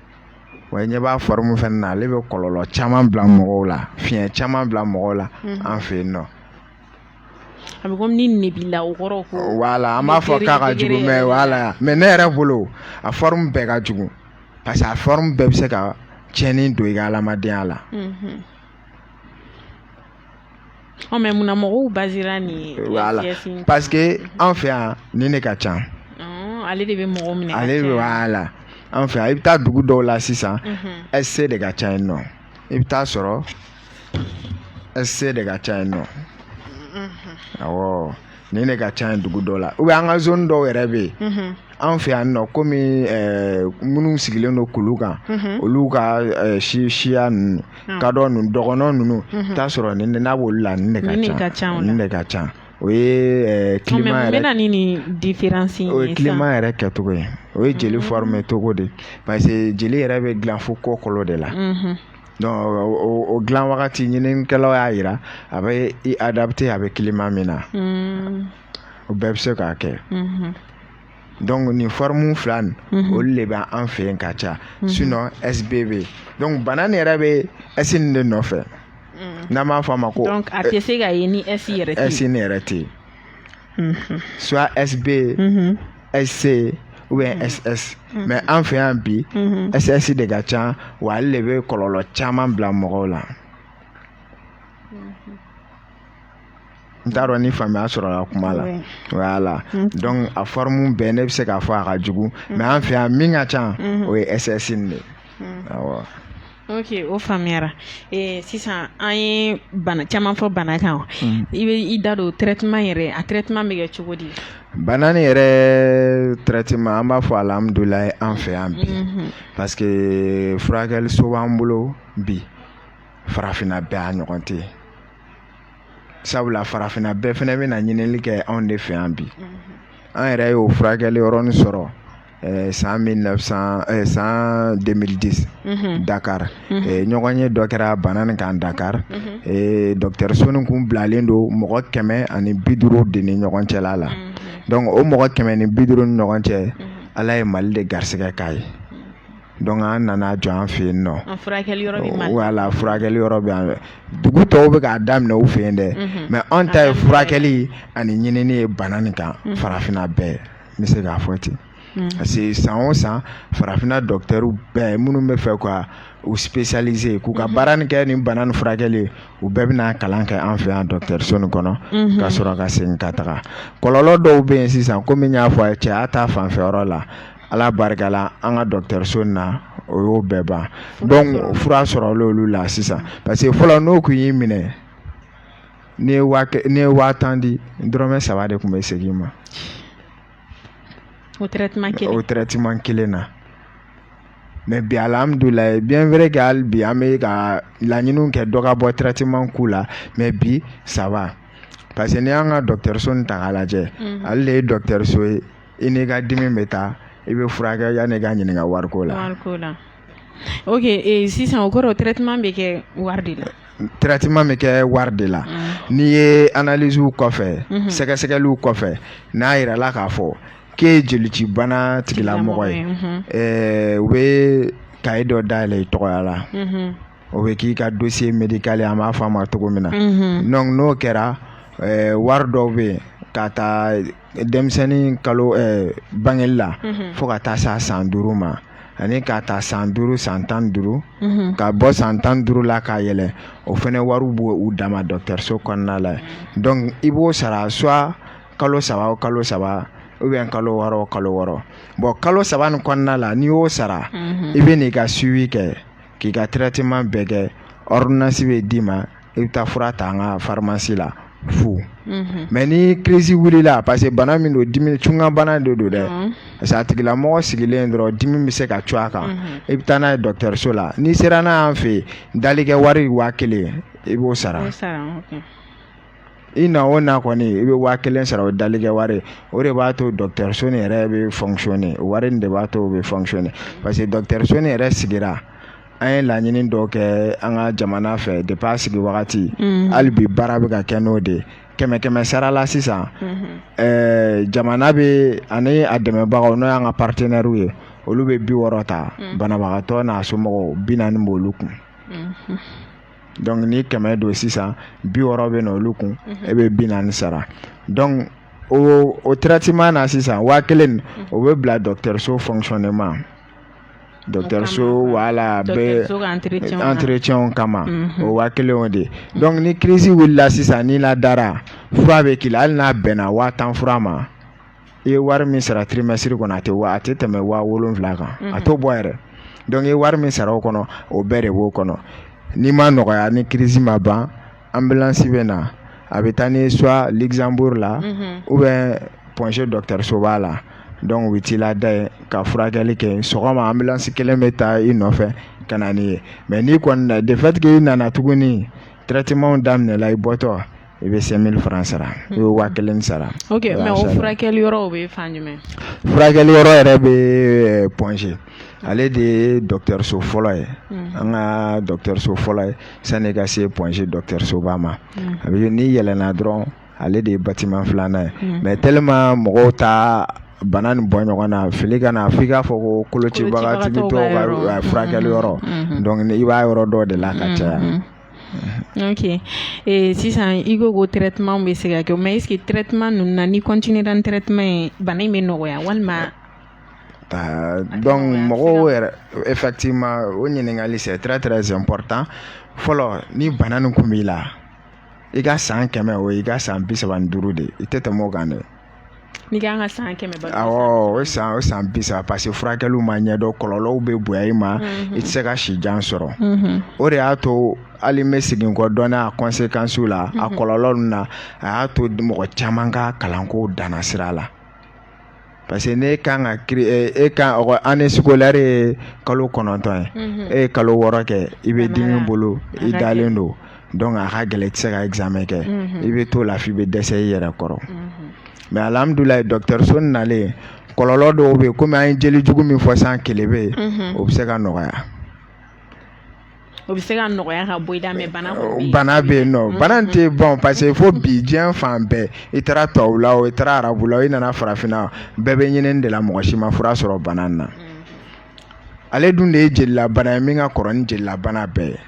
wa ɲɛ b'a fɔrɔmu fɛ na ale bɛ kɔlɔlɔ caman bila mɔgɔw la fiɲɛ caman bila mɔgɔw la an fɛ yen nɔ A bɛ komi ni nin b'i la o kɔrɔ ko voilà an b'a fɔ k'a ka jugu mais voilà mais ne yɛrɛ bolo a forme bɛɛ ka jugu parce que a forme bɛɛ bɛ se ka tiɲɛni don i ka hadamadenya la. Unhun. Ɔ mais munna mɔgɔw basé la nin voilà SS in kan? parce que an fɛ yan nin de ka ca. Ɔn ale de bɛ mɔgɔw minɛ ka ale caya. voilà an fɛ yan i bɛ taa dugu dɔw la sisan Unhun. SC de ka ca yen nɔ i bɛ t'a sɔrɔ sc de ka ca yen nɔ awɔ nin de ka ca yen dugu dɔ la ou bien an ka zoni dɔw yɛrɛ bɛ yen an fɛ yan nɔ komi minnu sigilen don kulu kan olu ka si siya ninnu ka dɔ ninnu dɔgɔnɔ ninnu t'a sɔrɔ nin n'a b'olu la nin de ka ca nin de ka ca o ye kilima yɛrɛ ni nin diferansi o ye kilima yɛrɛ kɛcogo ye o ye jeli formé cogo de parce que jeli yɛrɛ bɛ dilan fo kɔkolo de la o dilan wagati ɲininikɛlaw y'a jira a bɛ i adapté a bɛ kilima min na o bɛɛ bɛ se k'a kɛ donc nin fɔrɔmu fila nin olu de bɛ an fɛ yen ka ca sinon sb bɛ yen bana nin yɛrɛ bɛ s nin de nɔfɛ n'a ma fɔ a ma ko a tɛ se ka ni yɛrɛ s nin yɛrɛ tɛ yen mm-hmm. soit sb mm-hmm. sc ou bien mm-hmm. ss mais an fɛ yan bi ss de ka ca wa ale de bɛ kɔlɔlɔ caman bila mɔgɔw la n t'a dɔn ni faamuya sɔrɔla kuma la voilà donc a fɔrɔmu bɛɛ ne bɛ se k'a fɔ a ka jugu mais an fɛ yan min ka ca o ye ss nin de ye awɔ ok o faamuyara ee sisan an ye caman fɔ bana kan i bɛ i da don traitement yɛrɛ a traitement bɛ kɛ cogo di bana ni yɛrɛ traitement an b'a fɔ alihamudulayi an fɛ yan bi parce que furakɛliso b'an bolo bi farafinna bɛɛ a ɲɔgɔn tɛ sabula farafinna bɛɛ fana bɛ na ɲininli kɛ anw de fɛ yan bi an yɛrɛ y'o furakɛli yɔrɔ nin sɔrɔ Eh, san 1900 eh, san 2010 mhm. Dakar mhm. eh, ɲɔgɔn ye dɔ kɛra bana nin kan Dakar mhm. dɔkitɛriso nin kun bilalen don mɔgɔ kɛmɛ ani bi duuru de ni ɲɔgɔn cɛla la donc o mɔgɔ kɛmɛ ni bi duuru ni ɲɔgɔn cɛ Ala ye Mali de garisigɛ k'a ye donc an nana jɔ an fɛ yen non furakɛli yɔrɔ bɛ Mali voilà furakɛli yɔrɔ bɛ an dugu tɔw bɛ k'a daminɛ u fɛ yen dɛ mais an ta ye furakɛli ani ɲinini ye bana nin kan farafinna bɛɛ n bɛ se k'a fɔ ten hmm. parce que san o san farafinna dɔkitɛriw bɛɛ minnu b'a fɛ k'u spécialisé k'u ka hmm. baara ni kɛ nin bana ni furakɛli u bɛɛ bɛ na kalan kɛ an fɛ yan dɔkitɛriso nin kɔnɔ hmm. ka sɔrɔ ka segin ka taga kɔlɔlɔ dɔw bɛ yen sisan komi n y'a fɔ a ye cɛya ta fanfɛ yɔrɔ la ala barika la an ka dɔkitɛriso in na o y'o bɛɛ ban donc fura sɔrɔla olu la sisan parce que fɔlɔ n'o tun y'i minɛ n'e ye waa n'e ye waa tan di dɔrɔmɛ saba de tun bɛ segin i ma o traitement kelen o traitement kelen na mais bi alihamudulayi bien vrai que hali bi an bɛ ka laɲiniw kɛ dɔ ka bɔ traitement ko la mais bi ça va parce que n'i y'an ka dɔgɔtɔrɔso nin ta k'a lajɛ mhm. ale de ye dɔgɔtɔrɔso ye i n'i ka dimi bɛ taa i bɛ furakɛ yanni i ka ɲininka wariko la wariko la Ok sisan o kɔrɔ traitement bɛ kɛ wari de la traitement bɛ kɛ wari de la n'i ye analysew kɔfɛ sɛgɛsɛgɛli kɔfɛ n'a jira la k'a fɔ k'e ye jelicibana tigilamɔgɔ ye u bɛ cahier dɔ dayɛlɛ i tɔgɔya la o bɛ k'i ka dossier médical ye an b'a fɔ a ma cogo min na donc n'o kɛra wari dɔw bɛ yen ka taa denmisɛnnin ka bɔ bangeli la fo ka taa se san duuru ma ani k'a ta san duuru san tan duuru ka bɔ san tan duuru la ka yɛlɛn o fana wariw b'u dama dɔkitɛriso kɔnɔna la donc i b'o sara soit kalo saba o kalo saba ou bien kalo wɔɔrɔ o kalo wɔɔrɔ bɔn kalo saba ni kɔnɔna la n'i y'o sara i bɛ n'i ka suivi kɛ k'i ka traitement bɛɛ kɛ ordonnance bɛ d'i ma i bɛ taa fura ta an ka farimasi la fu mhm. mais ni kirisi wulila parce que bana min don dimi cunkan bana de don dɛ mhm. parce que a tigilamɔgɔ sigilen dɔrɔn dimi bɛ se ka cun a kan mhm. i bɛ taa n'a ye dɔgɔtɔrɔso la n'i sera n'a y'an fɛ yen dalikɛ wari waa kelen i b'o sara i na o na kɔni i bɛ waa kelen sara o dalikɛ wari o de b'a to dɔgɔtɔrɔso nin yɛrɛ bɛ fɔnkisɔnne wari nin de b'a to o bɛ fɔnkisɔnne parce que dɔgɔtɔrɔso nin yɛrɛ sigira an ye laɲini dɔ kɛ an ka jamana fɛ depuis a sigi wagati mm-hmm. hali bi baara bɛ ka kɛ n'o de ye kɛmɛ kɛmɛ sara la sisan mm-hmm. eh, jamana bɛ ani a dɛmɛbagaw n'o y'an ka partenaires ye olu bɛ bi wɔɔrɔ ta mm. banabagatɔ n'a somɔgɔw bi naani b'olu kun mm-hmm. donc ni kɛmɛ don sisan bi wɔɔrɔ bɛ na olu kun e bɛ bi naani sara donc o o traitement na sisan waa kelen o bɛ bila dɔgɔtɔrɔso fonctionnement dɔkitɛriso wala bɛ entretienw kama o waa kelen o de dɔnku ni kirisi wulila sisan n'i ladara fura bɛ k'i la hali n'a bɛnna waa tan fura ma i ye wari min sara tirimɛsiri kɔnɔ a tɛ a tɛ tɛmɛ waa wolon wolonwula kan a t'o bɔ yɛrɛ dɔnku ye wari min sara o kɔnɔ o bɛɛ de b'o kɔnɔ n'i ma nɔgɔya ni kirisi ma ban ambulance bɛ na a bɛ taa n'i soit Luxembourg la ou bien Point G dɔkitɛrisoba la dɔnku u bɛ t'i lada yen ka furakɛli kɛ sɔgɔma ambulance kelen bɛ taa i nɔfɛ ka na n'i ye mɛ n'i kɔni du fait que i nana tuguni traitementw daminɛla i bɔtɔ i bɛ cinq mille francs sara i bɛ waa kelen sara furakɛli yɔrɔ yɛrɛ bɛ Point G ale de ye dɔgɔtɔrɔso fɔlɔ ye mm. an ka dɔgɔtɔrɔso fɔlɔ ye sani i ka se Point G dɔgɔtɔrɔsoba ma mm. a bɛ n'i yɛlɛnna dɔrɔn ale de ye batiman filanan ye mm. mais tellement mɔgɔw tɛ bana nin bɔ ɲɔgɔn na fili kana f'i k'a fɔ ko kolocibagatɔw ka furakɛli yɔrɔ mm-hmm. donc i b'a yɔrɔ dɔn de la ka mm-hmm. caya mm-hmm. ok eh, sisan i ko ko traitement bɛ se ka kɛ mais est ce que traitement ninnu na n'i continuera ni traitement ye bana in bɛ nɔgɔya walima Euh, donc mɔgɔw yɛrɛ effectivement o ɲininkali c'est très très important fɔlɔ ni bana nin kun b'i la i ka san kɛmɛ o i ka san bi saba ni duuru de i tɛ tɛmɛ o kan dɛ n'i kan ka san kɛmɛ ba awɔ o san o san bi saba parce que furakɛliw ma ɲɛdɔn kɔlɔlɔw bɛ bonya i ma mhm. i tɛ se ka si jan sɔrɔ mhm. o de y'a to hali n bɛ segin kɔ dɔɔnin a conséquences la a mhm. kɔlɔlɔ ninnu na a y'a to mɔgɔ caman ka kalanko danna sira la parce que n'e ka e ka année scolaire ye kalo kɔnɔntɔn ye e ye kalo wɔɔrɔ kɛ i bɛ dimi bolo i dalen don donc a ka gɛlɛn i tɛ se ka examen kɛ i bɛ to lafi i bɛ dɛsɛ i yɛrɛ kɔrɔ mais alhamdulilahi dɔkitɛriso nalen kɔlɔlɔ dɔw bɛ yen kɔmi an ye jeli jugu min fɔ san kelen bɛ yen o bɛ se ka nɔgɔya o bɛ se ka nɔgɔya ka bɔ i la mais bana bana bɛ yen non bana tɛ ban parce que fo bi diɲɛ fan bɛɛ i taara tubabu la o i taara arabu la i nana farafinna bɛɛ bɛ ɲini de la mɔgɔ si ma fura sɔrɔ bana na ale dun de ye jelilabana ye min ka kɔrɔ ni jelilabana bɛɛ ye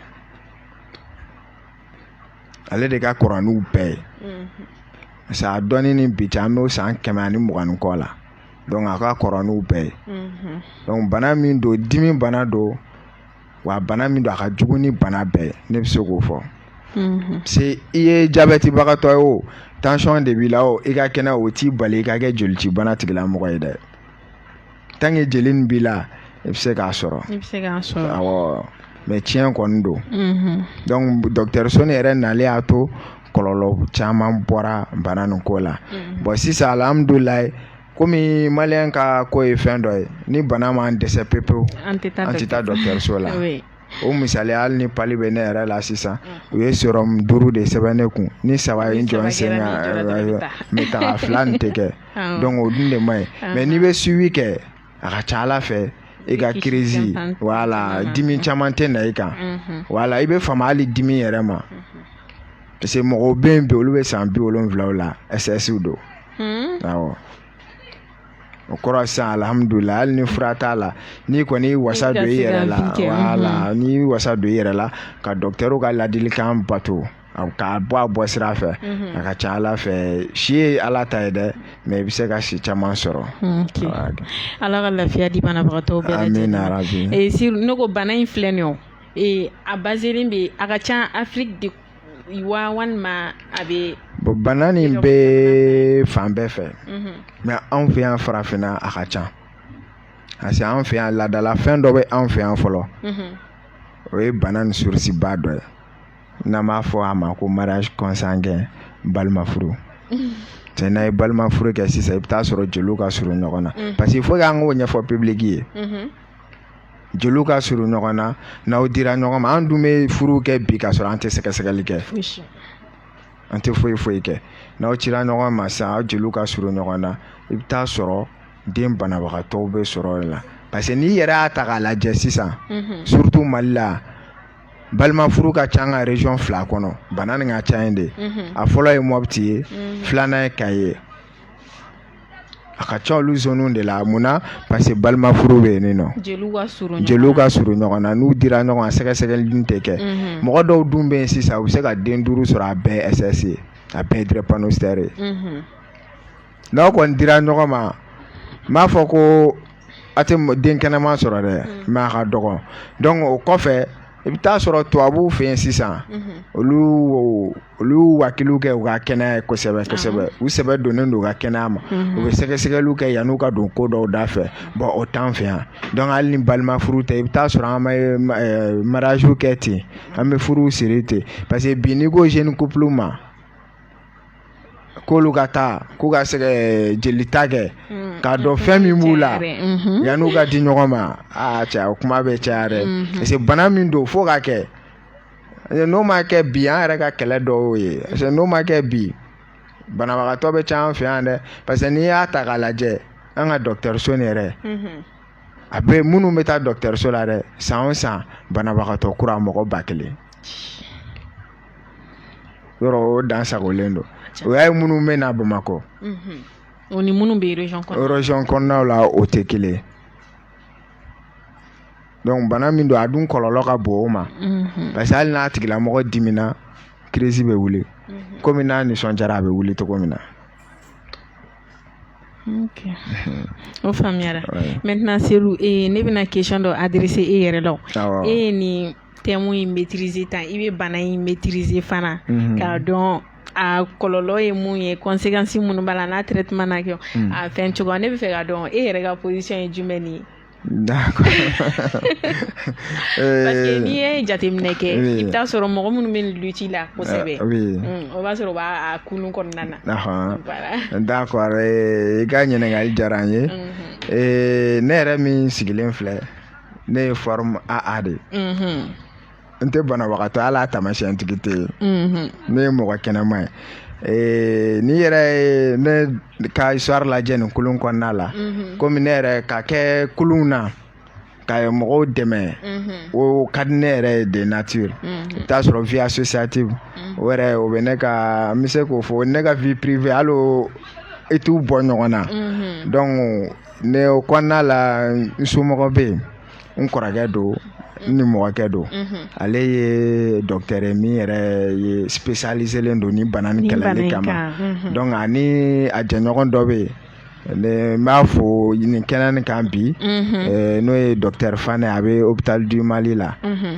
ale de ka kɔrɔ n'u bɛɛ ye parce que a dɔnni ni bi cɛ an bɛ san kɛmɛ ani mugan ni kɔ la donc a ka kɔrɔ n'u bɛɛ ye donc bana min don dimi bana don wa bana min don a ka jugu ni bana bɛɛ ne bɛ se k'o fɔ se i ye jabɛtibagatɔ ye o tansiyɔn de b'i la o i ka kɛnɛ o t'i bali i ka kɛ jolici bana tigila mɔgɔ ye dɛ tant que jeli nin b'i la i bɛ se k'a sɔrɔ mɛ tiɲɛ kɔni don dɔnku dɔkitɛriso ne yɛrɛ nalen y'a to kɔlɔlɔ caman bɔra bana nin ko la bɔn sisan alihamudulilayi komi maliyɛn ka ko ye fɛn dɔ ye ni bana m'an dɛsɛ pepewu an tɛ taa dɔgɔtɔrɔso la o misali hali ni pali bɛ ne yɛrɛ la sisan u ye sɔrɔmu duuru de sɛbɛn ne kun ni saba ye n jɔ n sen mɛ tɔ fila nin tɛ kɛ dɔnku o dun de man ɲi mɛ n'i bɛ suivi kɛ a ka ca ala fɛ i ka kirisi wala dimi caman tɛ na i kan wala i bɛ fama hali dimi yɛrɛ ma parce que mɔgɔw bɛ yen bi olu bɛ san bi wolonwulaw la ɛsɛsiw don Hmm? awɔ o kɔrɔ sisan alihamudulilayi hali ni fura t'a la n'i kɔni y'i wasa don i yɛrɛ la wala hmm. n'i y'i wasa don i yɛrɛ la ka dɔkitɛriw ka ladilikan bato k'a bɔ a bɔ sira fɛ hmm. a ka ca ala fɛ si ye ala ta ye dɛ mɛ i bɛ se ka si caman sɔrɔ ala ka lafiya di banabagatɔ bɛɛ lajɛlen eh, ne ko bana in filɛ nin ye eh, a baselen bɛ a ka ca afiriki de wa walima a bɛ bon bana nin bɛ fan bɛɛ fɛ mais anw fɛ yan farafinna a ka ca parce que an fɛ yan laadala fɛn dɔ bɛ anw fɛ yan fɔlɔ o ye bana nin surusiba dɔ ye n'an b'a fɔ a ma ko mariage consanguin balima furu cɛ n'a ye balima furu kɛ sisan i bɛ taa sɔrɔ jeliw ka surun ɲɔgɔn na parce que il faut que an k'o ɲɛfɔ public ye jeliw ka surun ɲɔgɔn na n'aw dira ɲɔgɔn ma an dun bɛ furu kɛ bi ka sɔrɔ an tɛ sɛgɛsɛgɛli kɛ an tɛ foyi foyi kɛ n'aw dira ɲɔgɔn ma sisan aw jeliw ka surun ɲɔgɔn na i bɛ taa sɔrɔ den banabagatɔw bɛ sɔrɔ a la parce que n'i yɛrɛ y'a ta k'a lajɛ sisan mhm. surtout mali la balima furu ka ca an ka région fila kɔnɔ bana nin ka ca yen de mhm. a fɔlɔ ye mɔpiti ye mhm. filanan ye kayi ye A ka ca olu zoniw de la mun na parce que balima furu bɛ yen ninnu jeliw ka surun ɲɔgɔn na, jeliw ka surun ɲɔgɔn na n'u dira ɲɔgɔn ma sɛgɛsɛgɛli dun tɛ kɛ, unhun, mɔgɔ dɔw dun bɛ yen sisan u bɛ se ka den duuru sɔrɔ a bɛɛ ye SS ye a bɛɛ ye drépanocytaire ye, unhun, n'aw kɔni dira ɲɔgɔn ma n m'a fɔ ko a tɛ den kɛnɛman sɔrɔ dɛ mais a ka dɔgɔ donc o kɔfɛ i bɛ taa sɔrɔ tubabuw fɛ yen sisan olu olu wakiw kɛ u ka kɛnɛya ye kosɛbɛ kosɛbɛ u sɛbɛ donnen don u ka kɛnɛya ma u bɛ sɛgɛsɛgɛliw kɛ yanni u ka don ko dɔw da fɛ bon o t'an fɛ yan donc hali ni balima furu tɛ i bɛ taa sɔrɔ an bɛ mariyaziw kɛ ten an bɛ furuw siri ten parce que bi n'i ko jeune couple ma k'olu ka taa k'u ka sɛgɛ jeli ta kɛ mm. k'a dɔn fɛn min b'u la mm-hmm. yan'u ka di ɲɔgɔn ma aa cɛ o kuma bɛ caya dɛ mm-hmm. parce que bana min don fo o ka kɛ n'o ma kɛ bi an yɛrɛ ka kɛlɛ dɔ y'o ye parce que n'o ma kɛ bi banabagatɔ bɛ caya an fɛ yan dɛ parce que n'i y'a ta k'a lajɛ an ka dɔgɔtɔrɔso nin yɛrɛ mm-hmm. a bɛ minnu bɛ taa dɔgɔtɔrɔso la dɛ san o san banabagatɔ kura mɔgɔ ba kelen yɔrɔ o dan sagonlen don o y'a ye minnu bɛ na bamakɔ o ni minnu bɛ région kɔnɔnaw la o tɛ kelen donc bana min don a dun kɔlɔlɔ ka bon o ma parce que hali n'a tigilamɔgɔ dimina crise bɛ wuli kɔmi n'a nisɔndiyara a bɛ wuli cogo min na o faamuyara maintenant sa ne bɛna question dɔ adresser e yɛrɛ la e ye nin thème in maîtriser tan i bɛ bana in maîtriser fana k'a dɔn a kɔlɔlɔ ye mun ye conséquence minnu b'a la n'a traitement na kɛ a fɛn cogoya ne b'a fɛ k'a dɔn e yɛrɛ ka position ye jumɛn nin ye Parce n'i ye jateminɛ kɛ i bɛ t'a sɔrɔ mɔgɔ minnu bɛ lutte la kosɛbɛ o b'a sɔrɔ o b'a kun kɔnɔna na da i ka ɲininkali diyara an ye ne yɛrɛ min sigilen filɛ ne ye forme AA de n tɛ banabagatɔ wala taamasiyɛntigi tɛ yen ne ye mɔgɔ kɛnɛma ye Eh, n'i yɛrɛ ye ne ka histoire lajɛ nin kulu kɔnɔna la mhm. komi ne yɛrɛ ka kɛ kuluw na ka mɔgɔw dɛmɛ mhm. o ka di ne yɛrɛ ye de nature mhm. i bɛ t'a sɔrɔ vie associative o yɛrɛ o bɛ ne ka n bɛ se k'o fɔ ne ka vie privée hali i t'u bɔ ɲɔgɔn na donc ne o kɔnɔna la n somɔgɔ bɛ yen n kɔrɔkɛ don n nimɔgɔkɛ don ale ye docteur ye min yɛrɛ ye spécialisélen don nin bana nin kɛlɛli kama donc ani a jɛɲɔgɔn dɔ bɛ yen n b'a fo nin kɛnɛ nin kan bi n'o ye docteur Fané a bɛ hôpital du Mali la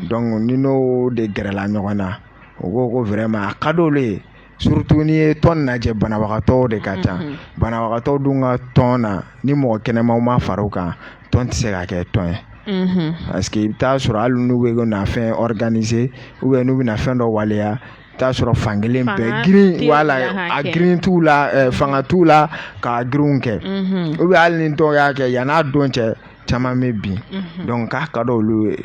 donc ne n'o de gɛrɛla ɲɔgɔn na u ko ko vraiment a ka di olu ye surtout n'i ye tɔn lajɛ banabagatɔ de ka ca banabagatɔ dun ka tɔn na ni mɔgɔ kɛnɛmaw ma fara a kan tɔn tɛ se ka kɛ tɔn ye parce que i bɛ t'a sɔrɔ hali n'u bɛ fɛn organiser u bɛ n'u bɛna fɛn dɔ waleya i t'a sɔrɔ fan kelen bɛ girin a girin t'u la fanga t'u la ka girinw kɛ u bɛ hali ni dɔw y'a kɛ yann'a don cɛ caman bɛ bin donc k'a ka di olu ye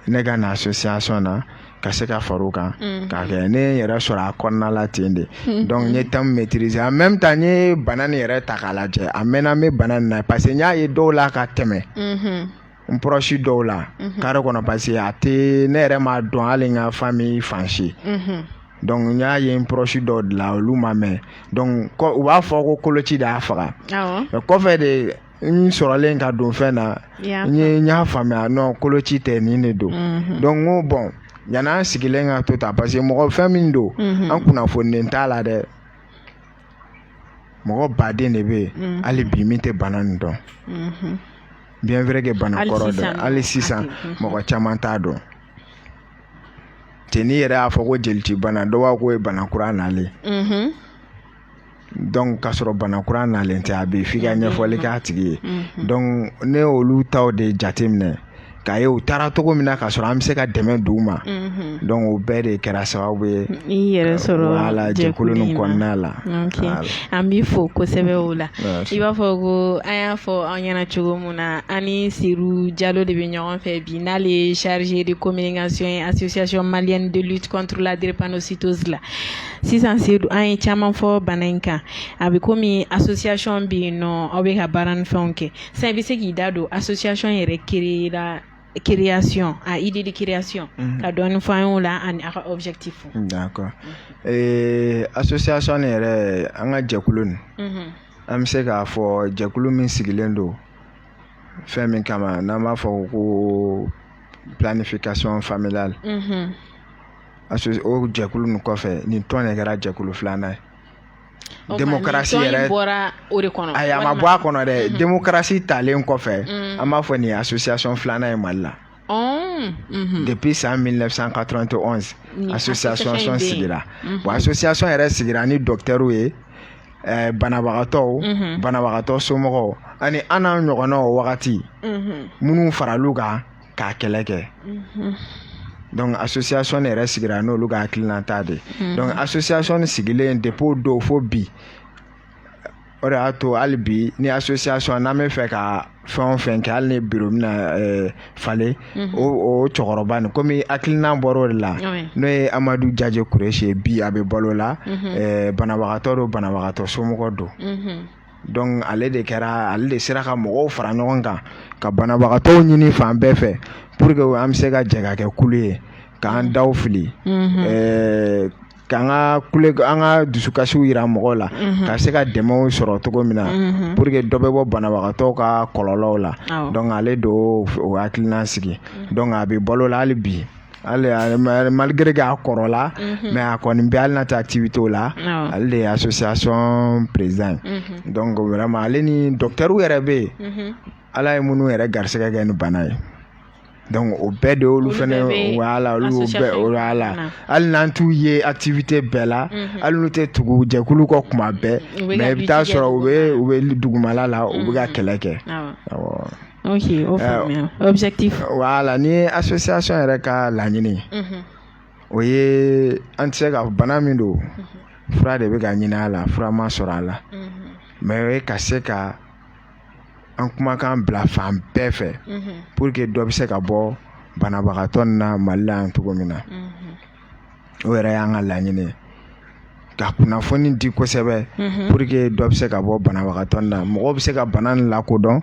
ne ka na association na ka se ka fara o kan mm. k'a kɛ ne yɛrɛ sɔrɔ a kɔnɔna la ten de mm. donc n ye thème maîtriser en même temps n ye bana nin yɛrɛ ta k'a lajɛ a mɛnna n bɛ bana nin na parce que n y'a ye dɔw la ka tɛmɛ mm-hmm. n proche dɔw la mm-hmm. kare kɔnɔ parce que a tɛ ne yɛrɛ m'a dɔn hali n ka famille fan si mm-hmm. donc n y'a ye n proche dɔw de la olu ma mɛn donc u b'a fɔ ko koloci de y'a faga kɔfɛ de n sɔrɔlen ka don fɛn na n ye n y'a faamuya non koloci tɛ nin de don mhm. donc n ko bon yan'an sigilen ka to tan parce que mɔgɔ fɛn min don mhm. an kunnafonilen t'a la dɛ mɔgɔ baden de bɛ yen mhm. hali bi min tɛ bana nin dɔn bien vrai que bana kɔrɔ don hali sisan mɔgɔ caman t'a dɔn cɛ n'i yɛrɛ y'a fɔ ko jelicibana dɔ b'a k'o ye bana kura nalen k'a sɔrɔ bana kura nalen tɛ a bɛ f'i ka ɲɛfɔli k'a tigi ye donc ne olu taw de jateminɛ k'a ye u taara cogo min na k'a sɔrɔ an bɛ se ka dɛmɛ d'u ma donc o bɛɛ de kɛra sababu ye yɛrɛ sɔrɔla jɛkulu nin kɔnɔna la an b'i fo kosɛbɛ o la i b'a fɔ ko an y'a fɔ aw ɲɛna cogo min na an ni Seyidu jalo de bɛ ɲɔgɔn fɛ bi n'ale ye chargé de communication association malienne de lutte contre la drépanocytose la Sisan Seyidu an ye caman fɔ bana in kan a bɛ komi association bɛ yen nɔ aw bɛ ka baara ni fɛnw kɛ sisan i bɛ se k'i da don association yɛrɛ créer la création a idée de création ka dɔɔnin fɔ an ye o la ani a ka objectif d'accord association nin yɛrɛ an ka jɛkulu nin an bɛ se k'a fɔ jɛkulu min sigilen don fɛn min kama n'an b'a fɔ ko planification familiale a o jɛkulu nin kɔfɛ nin tɔn de kɛra jɛkulu filanan ye demokarasi yɛrɛ ayi a ma bɔ a kɔnɔ dɛ mm-hmm. demokarasi talen kɔfɛ mm. an b'a fɔ nin association filanan ye mali la mm-hmm. depuis san 1991 association sigira mm-hmm. bon association yɛrɛ sigira ni dɔktɛriw ye eh, banabagatɔw banabagatɔ somɔgɔw ani an n'an ɲɔgɔnnaw wagati minnu faral'u kan k'a kɛlɛ kɛ mm-hmm. donc association yɛrɛ sigira n'olu ka hakilinata de mm-hmm. donc association sigilen depuis o don fo bi o de y'a to hali bi ni association n'an bɛ fɛ ka fɛn o fɛn kɛ hali ni biro bɛna eh, falen mm-hmm. o o cɛkɔrɔba nin komi hakilina bɔra o de la n'o ye amadu jaje kuresi ye bi a bɛ balo la eh, banabagatɔ don banabagatɔ somɔgɔ don ale de kɛra ale de sera ka mɔgɔw fara ɲɔgɔn kan ka banabagatɔw ɲini fan bɛɛ fɛ pour que an bɛ se ka jɛ ka kɛ kulu ye k'an daw fili k'an ka kule an ka dusukasiw jira mɔgɔw la ka se ka dɛmɛw sɔrɔ cogo min na pour que dɔ bɛ bɔ banabagatɔw ka kɔlɔlɔw la donc ale de y'o hakilina sigi donc a bɛ balo la hali bi ale malgré k'a kɔrɔla mhm. mais a kɔni bɛ hali n'a tɛ activitéw la ale de ye association président ye mhm. donc vraiment ale ni docteur yɛrɛ bɛ yen mhm. ala ye minnu yɛrɛ garisɛgɛ kɛ nin bana ye donc o bɛɛ de olu fana wala olu y'o bɛɛ o y'a la hali n'an t'u ye activité bɛɛ la mhm. hali n'u tɛ tugu jɛkulu kɔ kuma bɛɛ mais i bɛ t'a sɔrɔ u bɛ u bɛ dugumala la u bɛ ka mhm. kɛlɛ kɛ ok o faamuya objectif voilà nin ye association yɛrɛ ka laɲini ye mhm. o ye an tɛ se ka bana min don mhm. fura de bɛ ka ɲini a la fura ma sɔrɔ a la mhm. mais o ye ka se ka an kumakan bila fan bɛɛ fɛ pour que dɔ bɛ se ka bɔ banabagatɔ na mali la yan cogo min na o yɛrɛ y'an ka laɲini ye ka kunnafoni di kosɛbɛ pour que dɔ bɛ se ka bɔ banabagatɔ na mɔgɔ bɛ se ka bana lakodɔn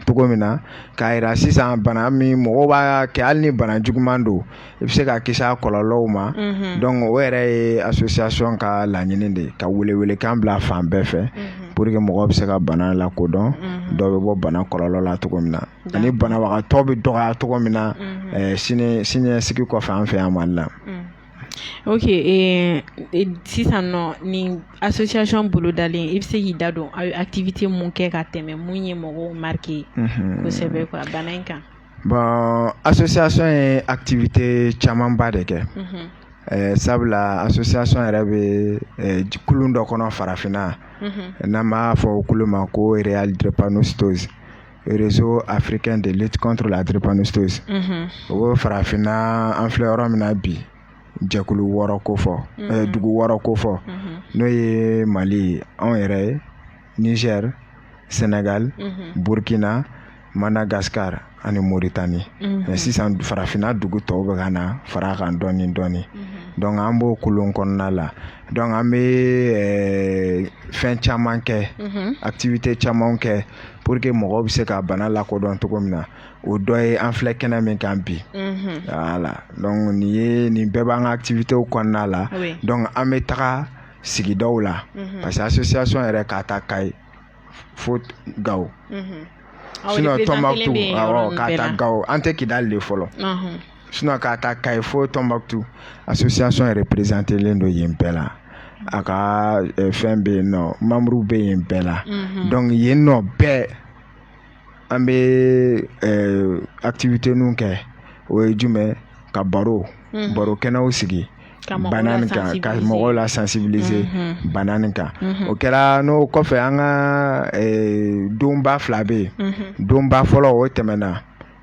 cogo min na k'a jira sisan bana min mɔgɔ b'a kɛ hali ni bana juguman don i bɛ se ka kisi a kɔlɔlɔw ma o yɛrɛ ye association ka laɲini de ye ka welewelekan bila fan bɛɛ fɛ pour que mɔgɔ bɛ se ka bana lakodɔn dɔ bɛ bɔ bana kɔlɔlɔ la cogo min na ani banabagatɔ bɛ dɔgɔya cogo min na siniɲɛsigi kɔfɛ an fɛ yan Mali la ok sisan nɔ nin association bolodalen i bɛ se k'i da don aw ye activité minnu kɛ ka tɛmɛ minnu ye mɔgɔw marqué kosɛbɛ quoi bana in kan bon association ye activité camanba de kɛ sabula association yɛrɛ bɛ kulu dɔ kɔnɔ farafinna n'an b'a fɔ o kulu ma ko real drépanocytose réseau africain de lutte contre la drépanocytose o bɛ farafinna an filɛ yɔrɔ min na bi jɛkulu wɔɔrɔ kofɔ dugu wɔɔrɔ kofɔ n'o ye mali ye anw yɛrɛ ye nizɛri sɛnɛgali burukina madagasikari ani moritani mais sisan farafinna dugu tɔw bɛ ka na fara a kan dɔɔni dɔɔni donc an b'o kulu kɔnɔna la donc an bɛ fɛn caman kɛ activité caman kɛ pour que mɔgɔw bɛ se ka bana lakodɔn cogo min na o dɔ ye an filɛ kɛnɛ min kan bi voilà donc nin ye nin bɛɛ b'an ka activités kɔnɔna la donc an bɛ taga sigidaw la parce que association yɛrɛ k'a ta Kayi fo Gawo sinon Tɔnbukutu awɔ k'a ta Gawo an tɛ Kidali de fɔlɔ. sinon k'a ta Kayi fo Tɔnbukutu association yɛrɛ représentélen don yen bɛɛ la a ka fɛn bɛ yen nɔ manburuw bɛ yen bɛɛ la donc yen nɔ bɛɛ an bɛ activitéw kɛ o ye jumɛn ka baro baro kɛnɛw sigi bana kan ka mɔgɔw la sensibiliser bana nin kan o kɛra n'o kɔfɛ an ka donba fila bɛ yen donba fɔlɔ o tɛmɛna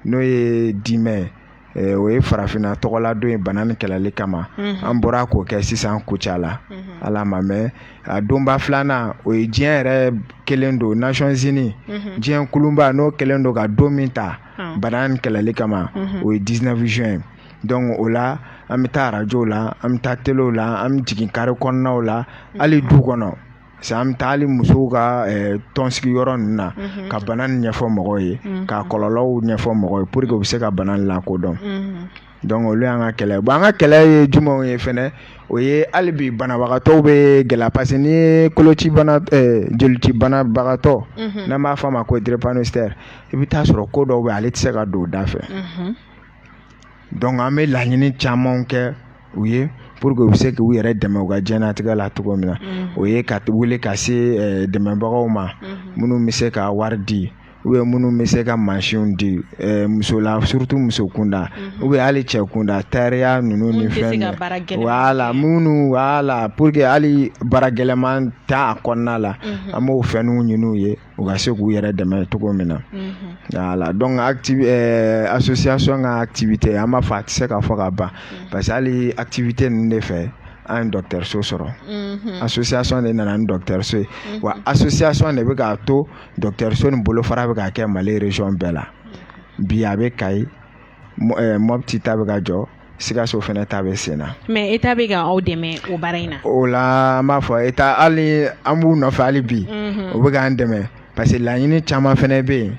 n'o ye dix mai ye Eh, o ye farafinna tɔgɔla don ye bana ni kɛlɛli kama mhm. an bɔra k'o kɛ sisan Kucala mhm. hali a ma mɛn a donba filanan o ye diɲɛ yɛrɛ kɛlen don Nations Unies mhm. diɲɛ kuluba n'o kɛlen don ka don min ta bana ni kɛlɛli kama o ye dix-neuf juin ye donc o la an bɛ taa arajow la an bɛ taa telew la an bɛ jigin kare kɔnɔnaw la hali du kɔnɔ Parce an bɛ taa hali musow ka tɔnsigi yɔrɔ ninnu na ka bana ɲɛfɔ mɔgɔw ye k'a kɔlɔlɔw ɲɛfɔ mɔgɔ ye pour que u bɛ se ka bana lakodɔn donc olu y'an ka kɛlɛ an ka kɛlɛ ye jumɛnw ye fana o ye hali bi banabagatɔw bɛ gɛlɛya parce que ni koloci jolici banabagatɔ n'an b'a fɔ a ma ko drépanocytaire i bɛ taa a sɔrɔ ko dɔw bɛ ale tɛ se ka don da fɛ donc an bɛ laɲini caman kɛ u ye pour que u bɛ se k'u yɛrɛ dɛmɛ u ka diɲɛnatigɛ la cogo min na mm. o ye ka wuli ka se eh, dɛmɛbagaw ma mm-hmm. minnu bɛ se ka wari di u bɛ minnu bɛ se ka mansinw di eh, musola surtout muso kunda mm-hmm. u bɛ hali cɛ kunda tayɛriya ninnu ni fɛn ninnu wala minnu voilà pour que hali baara gɛlɛman t'a kɔnɔna la mm-hmm. an b'o fɛnw ɲini u ye u ka se k'u yɛrɛ dɛmɛ cogo min na voilà donc association ka activité an b'a fɔ a tɛ se ka fɔ ka ban parce que hali activité ninnu de fɛ an ye dɔgɔtɔrɔso sɔrɔ association de nana ni dɔgɔtɔrɔso ye wa association de bɛ k'a to dɔgɔtɔrɔso nin bolofara bɛ ka kɛ Mali région bɛɛ la bi a bɛ Kayi Mɔti ta bɛ ka jɔ Sikaso fana ta bɛ sen na mais État bɛ ka aw dɛmɛ o baara in na o la an b'a fɔ État hali an b'u nɔfɛ hali bi o bɛ k'an dɛmɛ parce que laɲini caman fana bɛ yen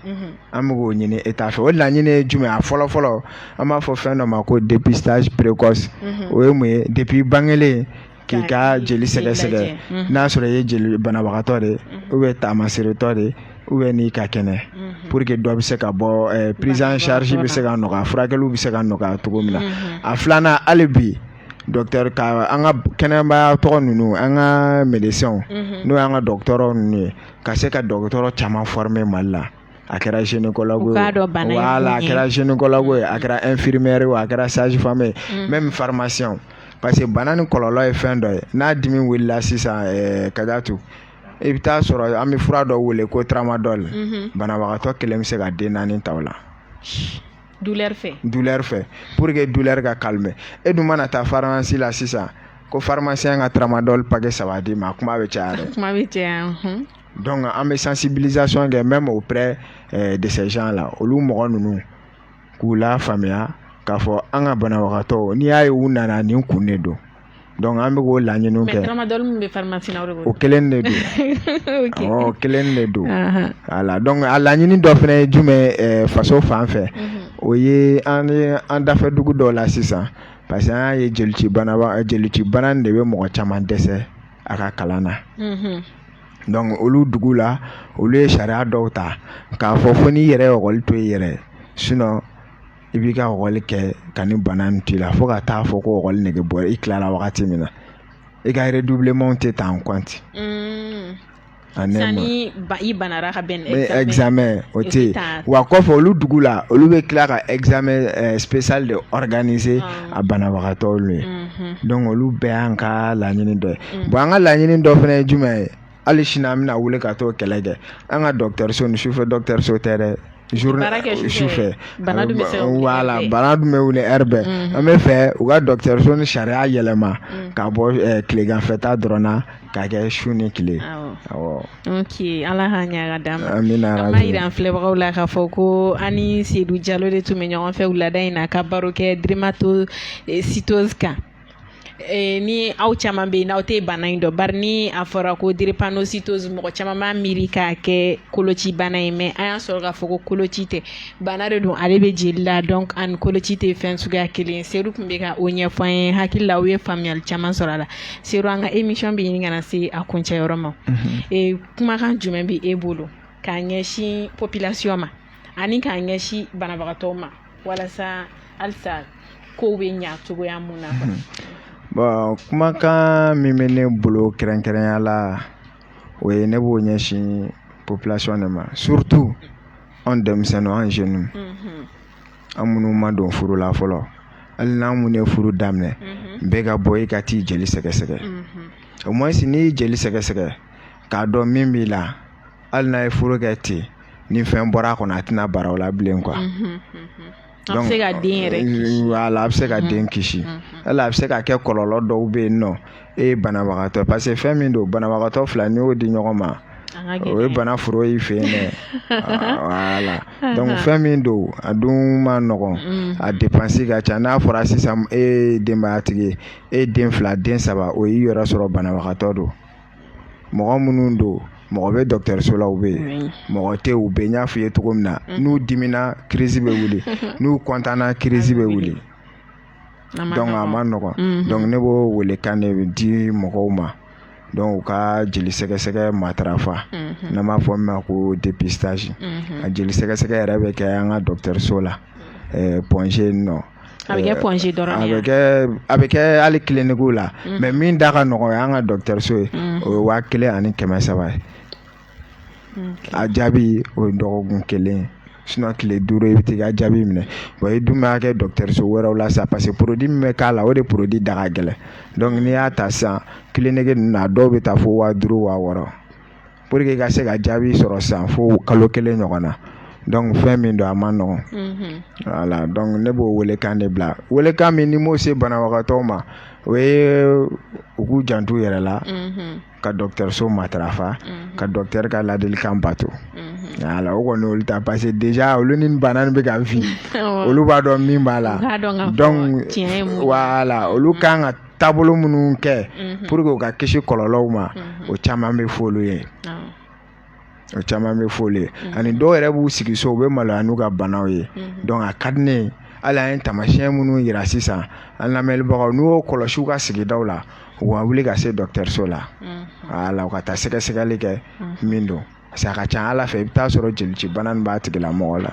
an bɛ k'o ɲini État fɛ o laɲini ye jumɛn a fɔlɔ fɔlɔ an b'a fɔ fɛn dɔ ma ko dépistage précoce o ye mun ye depuis bangelen k'i ka jeli sɛgɛsɛgɛ mhm. n'a sɔrɔ i ye jeli banabagatɔ de mhm. ou bien taamaseeretɔ de ou bien n'i ka kɛnɛ mhm. pour que dɔ bɛ se ka bɔ eh, prise en charge bɛ se ka nɔgɔya furakɛliw bɛ se ka nɔgɔya cogo min na a filanan hali bi docteur ka an ka kɛnɛyamaya tɔgɔ ninnu an ka médecins n'o y'an ka dɔgɔtɔrɔ ninnu ye ka se ka dɔgɔtɔrɔ caman former Mali la. a kɛra gynécologue a kɛra gynécologue ye a kɛra infirmier a kɛra sage-femme ye même farimasiyɛn parce que bana nin kɔlɔlɔ ye fɛn dɔ ye n'a dimi wulila sisan ka to i bɛ taa sɔrɔ an bɛ fura dɔ wele ko tramadol banabagatɔ kelen bɛ se ka den naani ta la du fɛ du fɛ pour que du ka ka e dun mana taa farimasi la sisan ko farimasi ka tramadol pakɛ saba di i ma kuma bɛ caya donc an bɛ sensibilisation kɛ même auprès eh, de ces gens là olu mɔgɔ ninnu k'u lafaamuya k'a fɔ an ka banabagatɔ n'i y'a ye u nana nin kun de don donc an bɛ k'o laɲiniw kɛ o kelen de don o kelen de don wala donc a laɲini dɔ fana ye jumɛn ye faso fan fɛ mhm. o ye an ye an dafɛ dugu dɔ la sisan parce que an y'a ye jolici bana jolici bana de bɛ mɔgɔ caman dɛsɛ a ka kalan na donc olu dugu la olu ye sariya dɔw ta k'a fɔ fo n'i yɛrɛ ye lɛkɔli to i yɛrɛ sinon i b'i ka lɛkɔli kɛ ka nin bana in t'i la fo ka taa fɔ ko lɛkɔli nege bɔra i tilala wagati min na i ka redoublement tɛ ta i banara ka bɛn examen o tɛ yen wa kɔfɛ olu dugu la olu bɛ tila ka examen spécial de organiser a banabagatɔw ye donc olu bɛɛ y'an ka laɲini dɔ ye bon an ka laɲini dɔ fana ye jumɛn ye hali sini an bɛna wuli ka t'o kɛlɛ kɛ an ka dɔgɔtɔrɔso nin sufɛ dɔgɔtɔrɔso tɛ dɛ sufɛ bana dun bɛ wuli ɛri bɛɛ an bɛ fɛ u ka dɔgɔtɔrɔso nin sariya yɛlɛma ka bɔ tileganfɛta dɔrɔn na k'a kɛ su ni tile ala ka ɲaga d'an ma an b'a jira an filɛbagaw la k'a fɔ ko an ni sedu jalo de tun bɛ ɲɔgɔn fɛ wulada in na ka baro kɛ drépanocytose kan ni aw caman bɛ yen n'aw tɛ bana in dɔn bari ni a fɔra ko drépanocytose mɔgɔ caman b'a miiri k'a kɛ koloci bana ye mais an y'a sɔrɔ k'a fɔ ko koloci tɛ bana de don ale bɛ jeli la donc a ni koloci tɛ fɛn suguya kelen sedu tun bɛ ka o ɲɛfɔ ne hakili la aw ye faamuyali caman sɔrɔ a la sedu an ka émission bɛ ɲini ka na se a kuncɛyɔrɔ ma kumakan jumɛn bɛ e bolo k'a ɲɛsin population ma ani k'a ɲɛsin banabagatɔ ma walasa halisa ko bɛ ɲɛ cogoya min na bon kumakan min bɛ ne bolo kɛrɛnkɛrɛnya la o ye ne b'o ɲɛsin population de ma surtout an denmisɛnnin an jeunes an minnu ma don furu la fɔlɔ hali n'an minnu ye furu daminɛ bɛɛ ka bɔ i ka t'i jeli sɛgɛsɛgɛ au moins n'i jeli sɛgɛsɛgɛ k'a dɔn min b'i la hali n'aw ye furu kɛ ten ni fɛn bɔra a kɔnɔ a tɛna bara aw la bilen wala a bɛ se ka den kisi wala a bɛ se ka kɛ kɔlɔlɔ dɔw bɛ yen nɔ e ye banabagatɔ parce que fɛn min don banabagatɔ fila n'i y'o di ɲɔgɔn ma o ye bana foro y'i fɛ yen dɛ voilà donc fɛn min don a dun man nɔgɔn mm. a depansi ka ca n'a fɔra sisan e ye denbayatigi ye e den fila den saba o y'i yɛrɛ sɔrɔ banabagatɔ don mɔgɔ minnu don mɔgɔ bɛ dɔgɔtɔrɔso la u bɛ yen mɔgɔ tɛ u bɛ n y'a f'i ye cogo min na mm. n'u dimina kirisi bɛ wuli n'u kɔntanna kirisi bɛ wuli a man nɔgɔn donc ne b'o welekan de di mɔgɔw ma donc u ka jeli sɛgɛsɛgɛ matarafa n'a b'a fɔ min ma ko dépistage a jeli sɛgɛsɛgɛ yɛrɛ bɛ kɛ an ka dɔgɔtɔrɔso la Point G kɔnɔ a bɛ a bɛ kɛ hali kilinikiw la mais min da ka nɔgɔn ye an ka dɔgɔtɔrɔso ye o ye waa kelen ani kɛmɛ saba ye a jaabi o ye dɔgɔkun kelen tile duuru i bɛ t'i ka jaabi minɛ i dun b'a kɛ dɔgɔtɔrɔso wɛrɛw la sa parce que min bɛ k'a la o de da ka gɛlɛn n'i y'a ta sisan kiliniki ninnu na a dɔw bɛ taa fo waa duuru waa wɔɔrɔ pour que i ka se ka jaabi sɔrɔ sisan fo kalo kelen ɲɔgɔn donc fɛn min don a man nɔgɔn voilà ne b'o welekan de bila welekan min ne b'o se banabagatɔ ma o ye u k'u janto u yɛrɛ la ka dɔgɔtɔrɔso matarafa ka dɔgɔtɔrɔ ka ladilikan bato o kɔni olu ta parce que déjà olu ni bana bɛ ka vivre olu b'a dɔn min b'a la donc voilà olu ka kan ka taabolo minnu kɛ pour que u ka kisi kɔlɔlɔw ma o caman bɛ fɔ olu ye o caman bɛ fɔ olu ye mm-hmm. ani dɔw yɛrɛ b'u sigi so u bɛ maloya n'u ka banaw ye mm-hmm. donc a ka di ne ye hali an ye taamasiyɛn minnu yira sisan an lamɛnbagaw n'u y'o kɔlɔsi u ka sigidaw la u ka wuli ka se dɔkitɛriso la mm-hmm. wala u ka taa sɛgɛsɛgɛli kɛ min don parce que a ka ca a la fɛ i bɛ t'a sɔrɔ jelicibana nin b'a tigila mɔgɔ la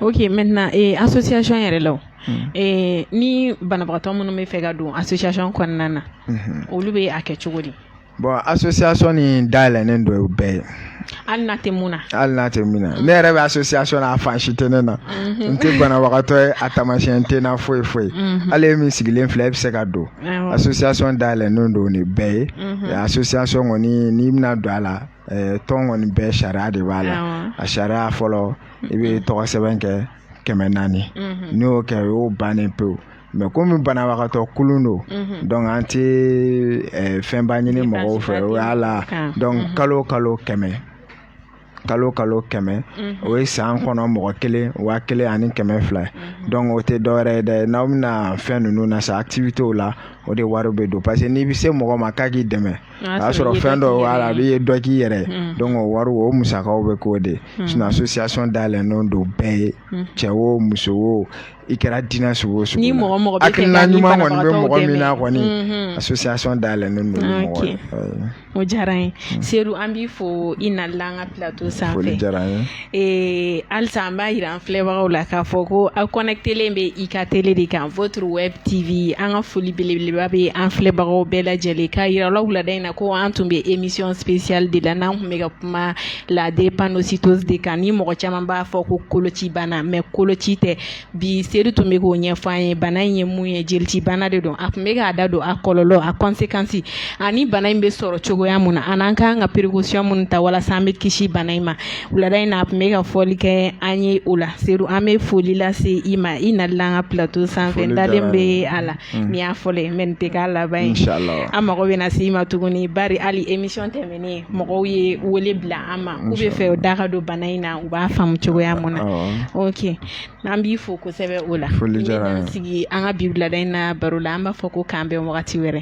ok maintenant eh, association yɛrɛ la mm. eh, ni banabagatɔ minnu bɛ fɛ ka don association kɔnɔna na olu bɛ a kɛ cogo di Bon association nin dayɛlɛlen don bɛɛ ye. Hali n'a tɛ min na. Hali n'a tɛ min na ne yɛrɛ bɛ association na a fan si tɛ ne na. Unhun. N tɛ banabagatɔ ye a taamasiyɛn tɛ n na foyi foyi. Unhun. Hali e min sigilen filɛ e bɛ se ka don. Awɔ. Association dayɛlɛlen don bɛɛ ye. Unhun. Ɛ Association kɔni n'i bɛna don a la ɛ tɔn kɔni bɛɛ sariya de b'a la. Awɔ. A sariya fɔlɔ i bɛ tɔgɔsɛbɛn kɛ kɛmɛ naani. Unhun. N'i y'o kɛ o y'o bannen pewu. mais comme banabagatɔ kulu don donc an tɛ fɛnba ɲini mɔgɔw fɛ voilà donc kalo o kalo kɛmɛ kalo o kalo kɛmɛ o ye san kɔnɔ mɔgɔ kelen waa kelen ani kɛmɛ fila ye donc o tɛ dɔwɛrɛ ye dɛ n'aw bɛna fɛn ninnu na activité la o de wari bɛ don parce que n'i bɛ se mɔgɔ ma k'a k'i dɛmɛ o y'a sɔrɔ fɛn dɔ la a bɛ ye dɔ k'i yɛrɛ donc wari o musakaw bɛ k'o de association dayɛlɛlen don bɛɛ ye cɛ o muso o i kɛra diinɛ sugu o sugu la, ni mɔgɔ mɔgɔ b'a fɛ ka nin banabagatɔw dɛmɛ, hakilina ɲuman kɔni bɛ mɔgɔ min na kɔni, unhun, association dayɛlɛnnen don o mɔgɔ ye. O diyara n ye mm. Sedu an b'i fo i nali la an ka plateau sanfɛ, foli diyara n ye, ee halisa an b'a jira an filɛbagaw la k'a fɔ ko aw connecter len bɛ i ka tele de kan votre web TV an ka foli belebeleba bɛ an filɛbagaw bɛɛ lajɛlen k'a jira aw la wulada in na ko an tun bɛ émission spéciale de la n'an tun bɛ ka kuma la drépanocytose de kan ni mɔgɔ caman b'a fɔ ko koloci bana mais koloci tɛ bi Sedu tun bɛ k'o ɲɛfɔ an ye bana in ye mun ye jelici bana de don a tun bɛ k'a da don a kɔlɔlɔ a conséquence ani bana in bɛ sɔrɔ cogoya mun na an'an kan ka précaution minnu ta walasa an bɛ kisi bana in ma wulada in na a tun bɛ ka fɔli kɛ an ye o la Sedu an bɛ foli lase i ma i nali la an ka plateau sanfɛ n dalen bɛ a la mm. nin y'a fɔlɔ ye mais nin tɛ k'a laban ye an mago bɛ na se i ma tuguni bari hali émission tɛ mɔgɔw ye wele bila an ma k'u b'a fɛ u da ka don bana in na u b'a faamu cogoya min na oke an b'i fo kosɛbɛ o la sigi an ka bi wulada in na baro la an b'a fɔ ko k'an bɛn wagati wɛrɛ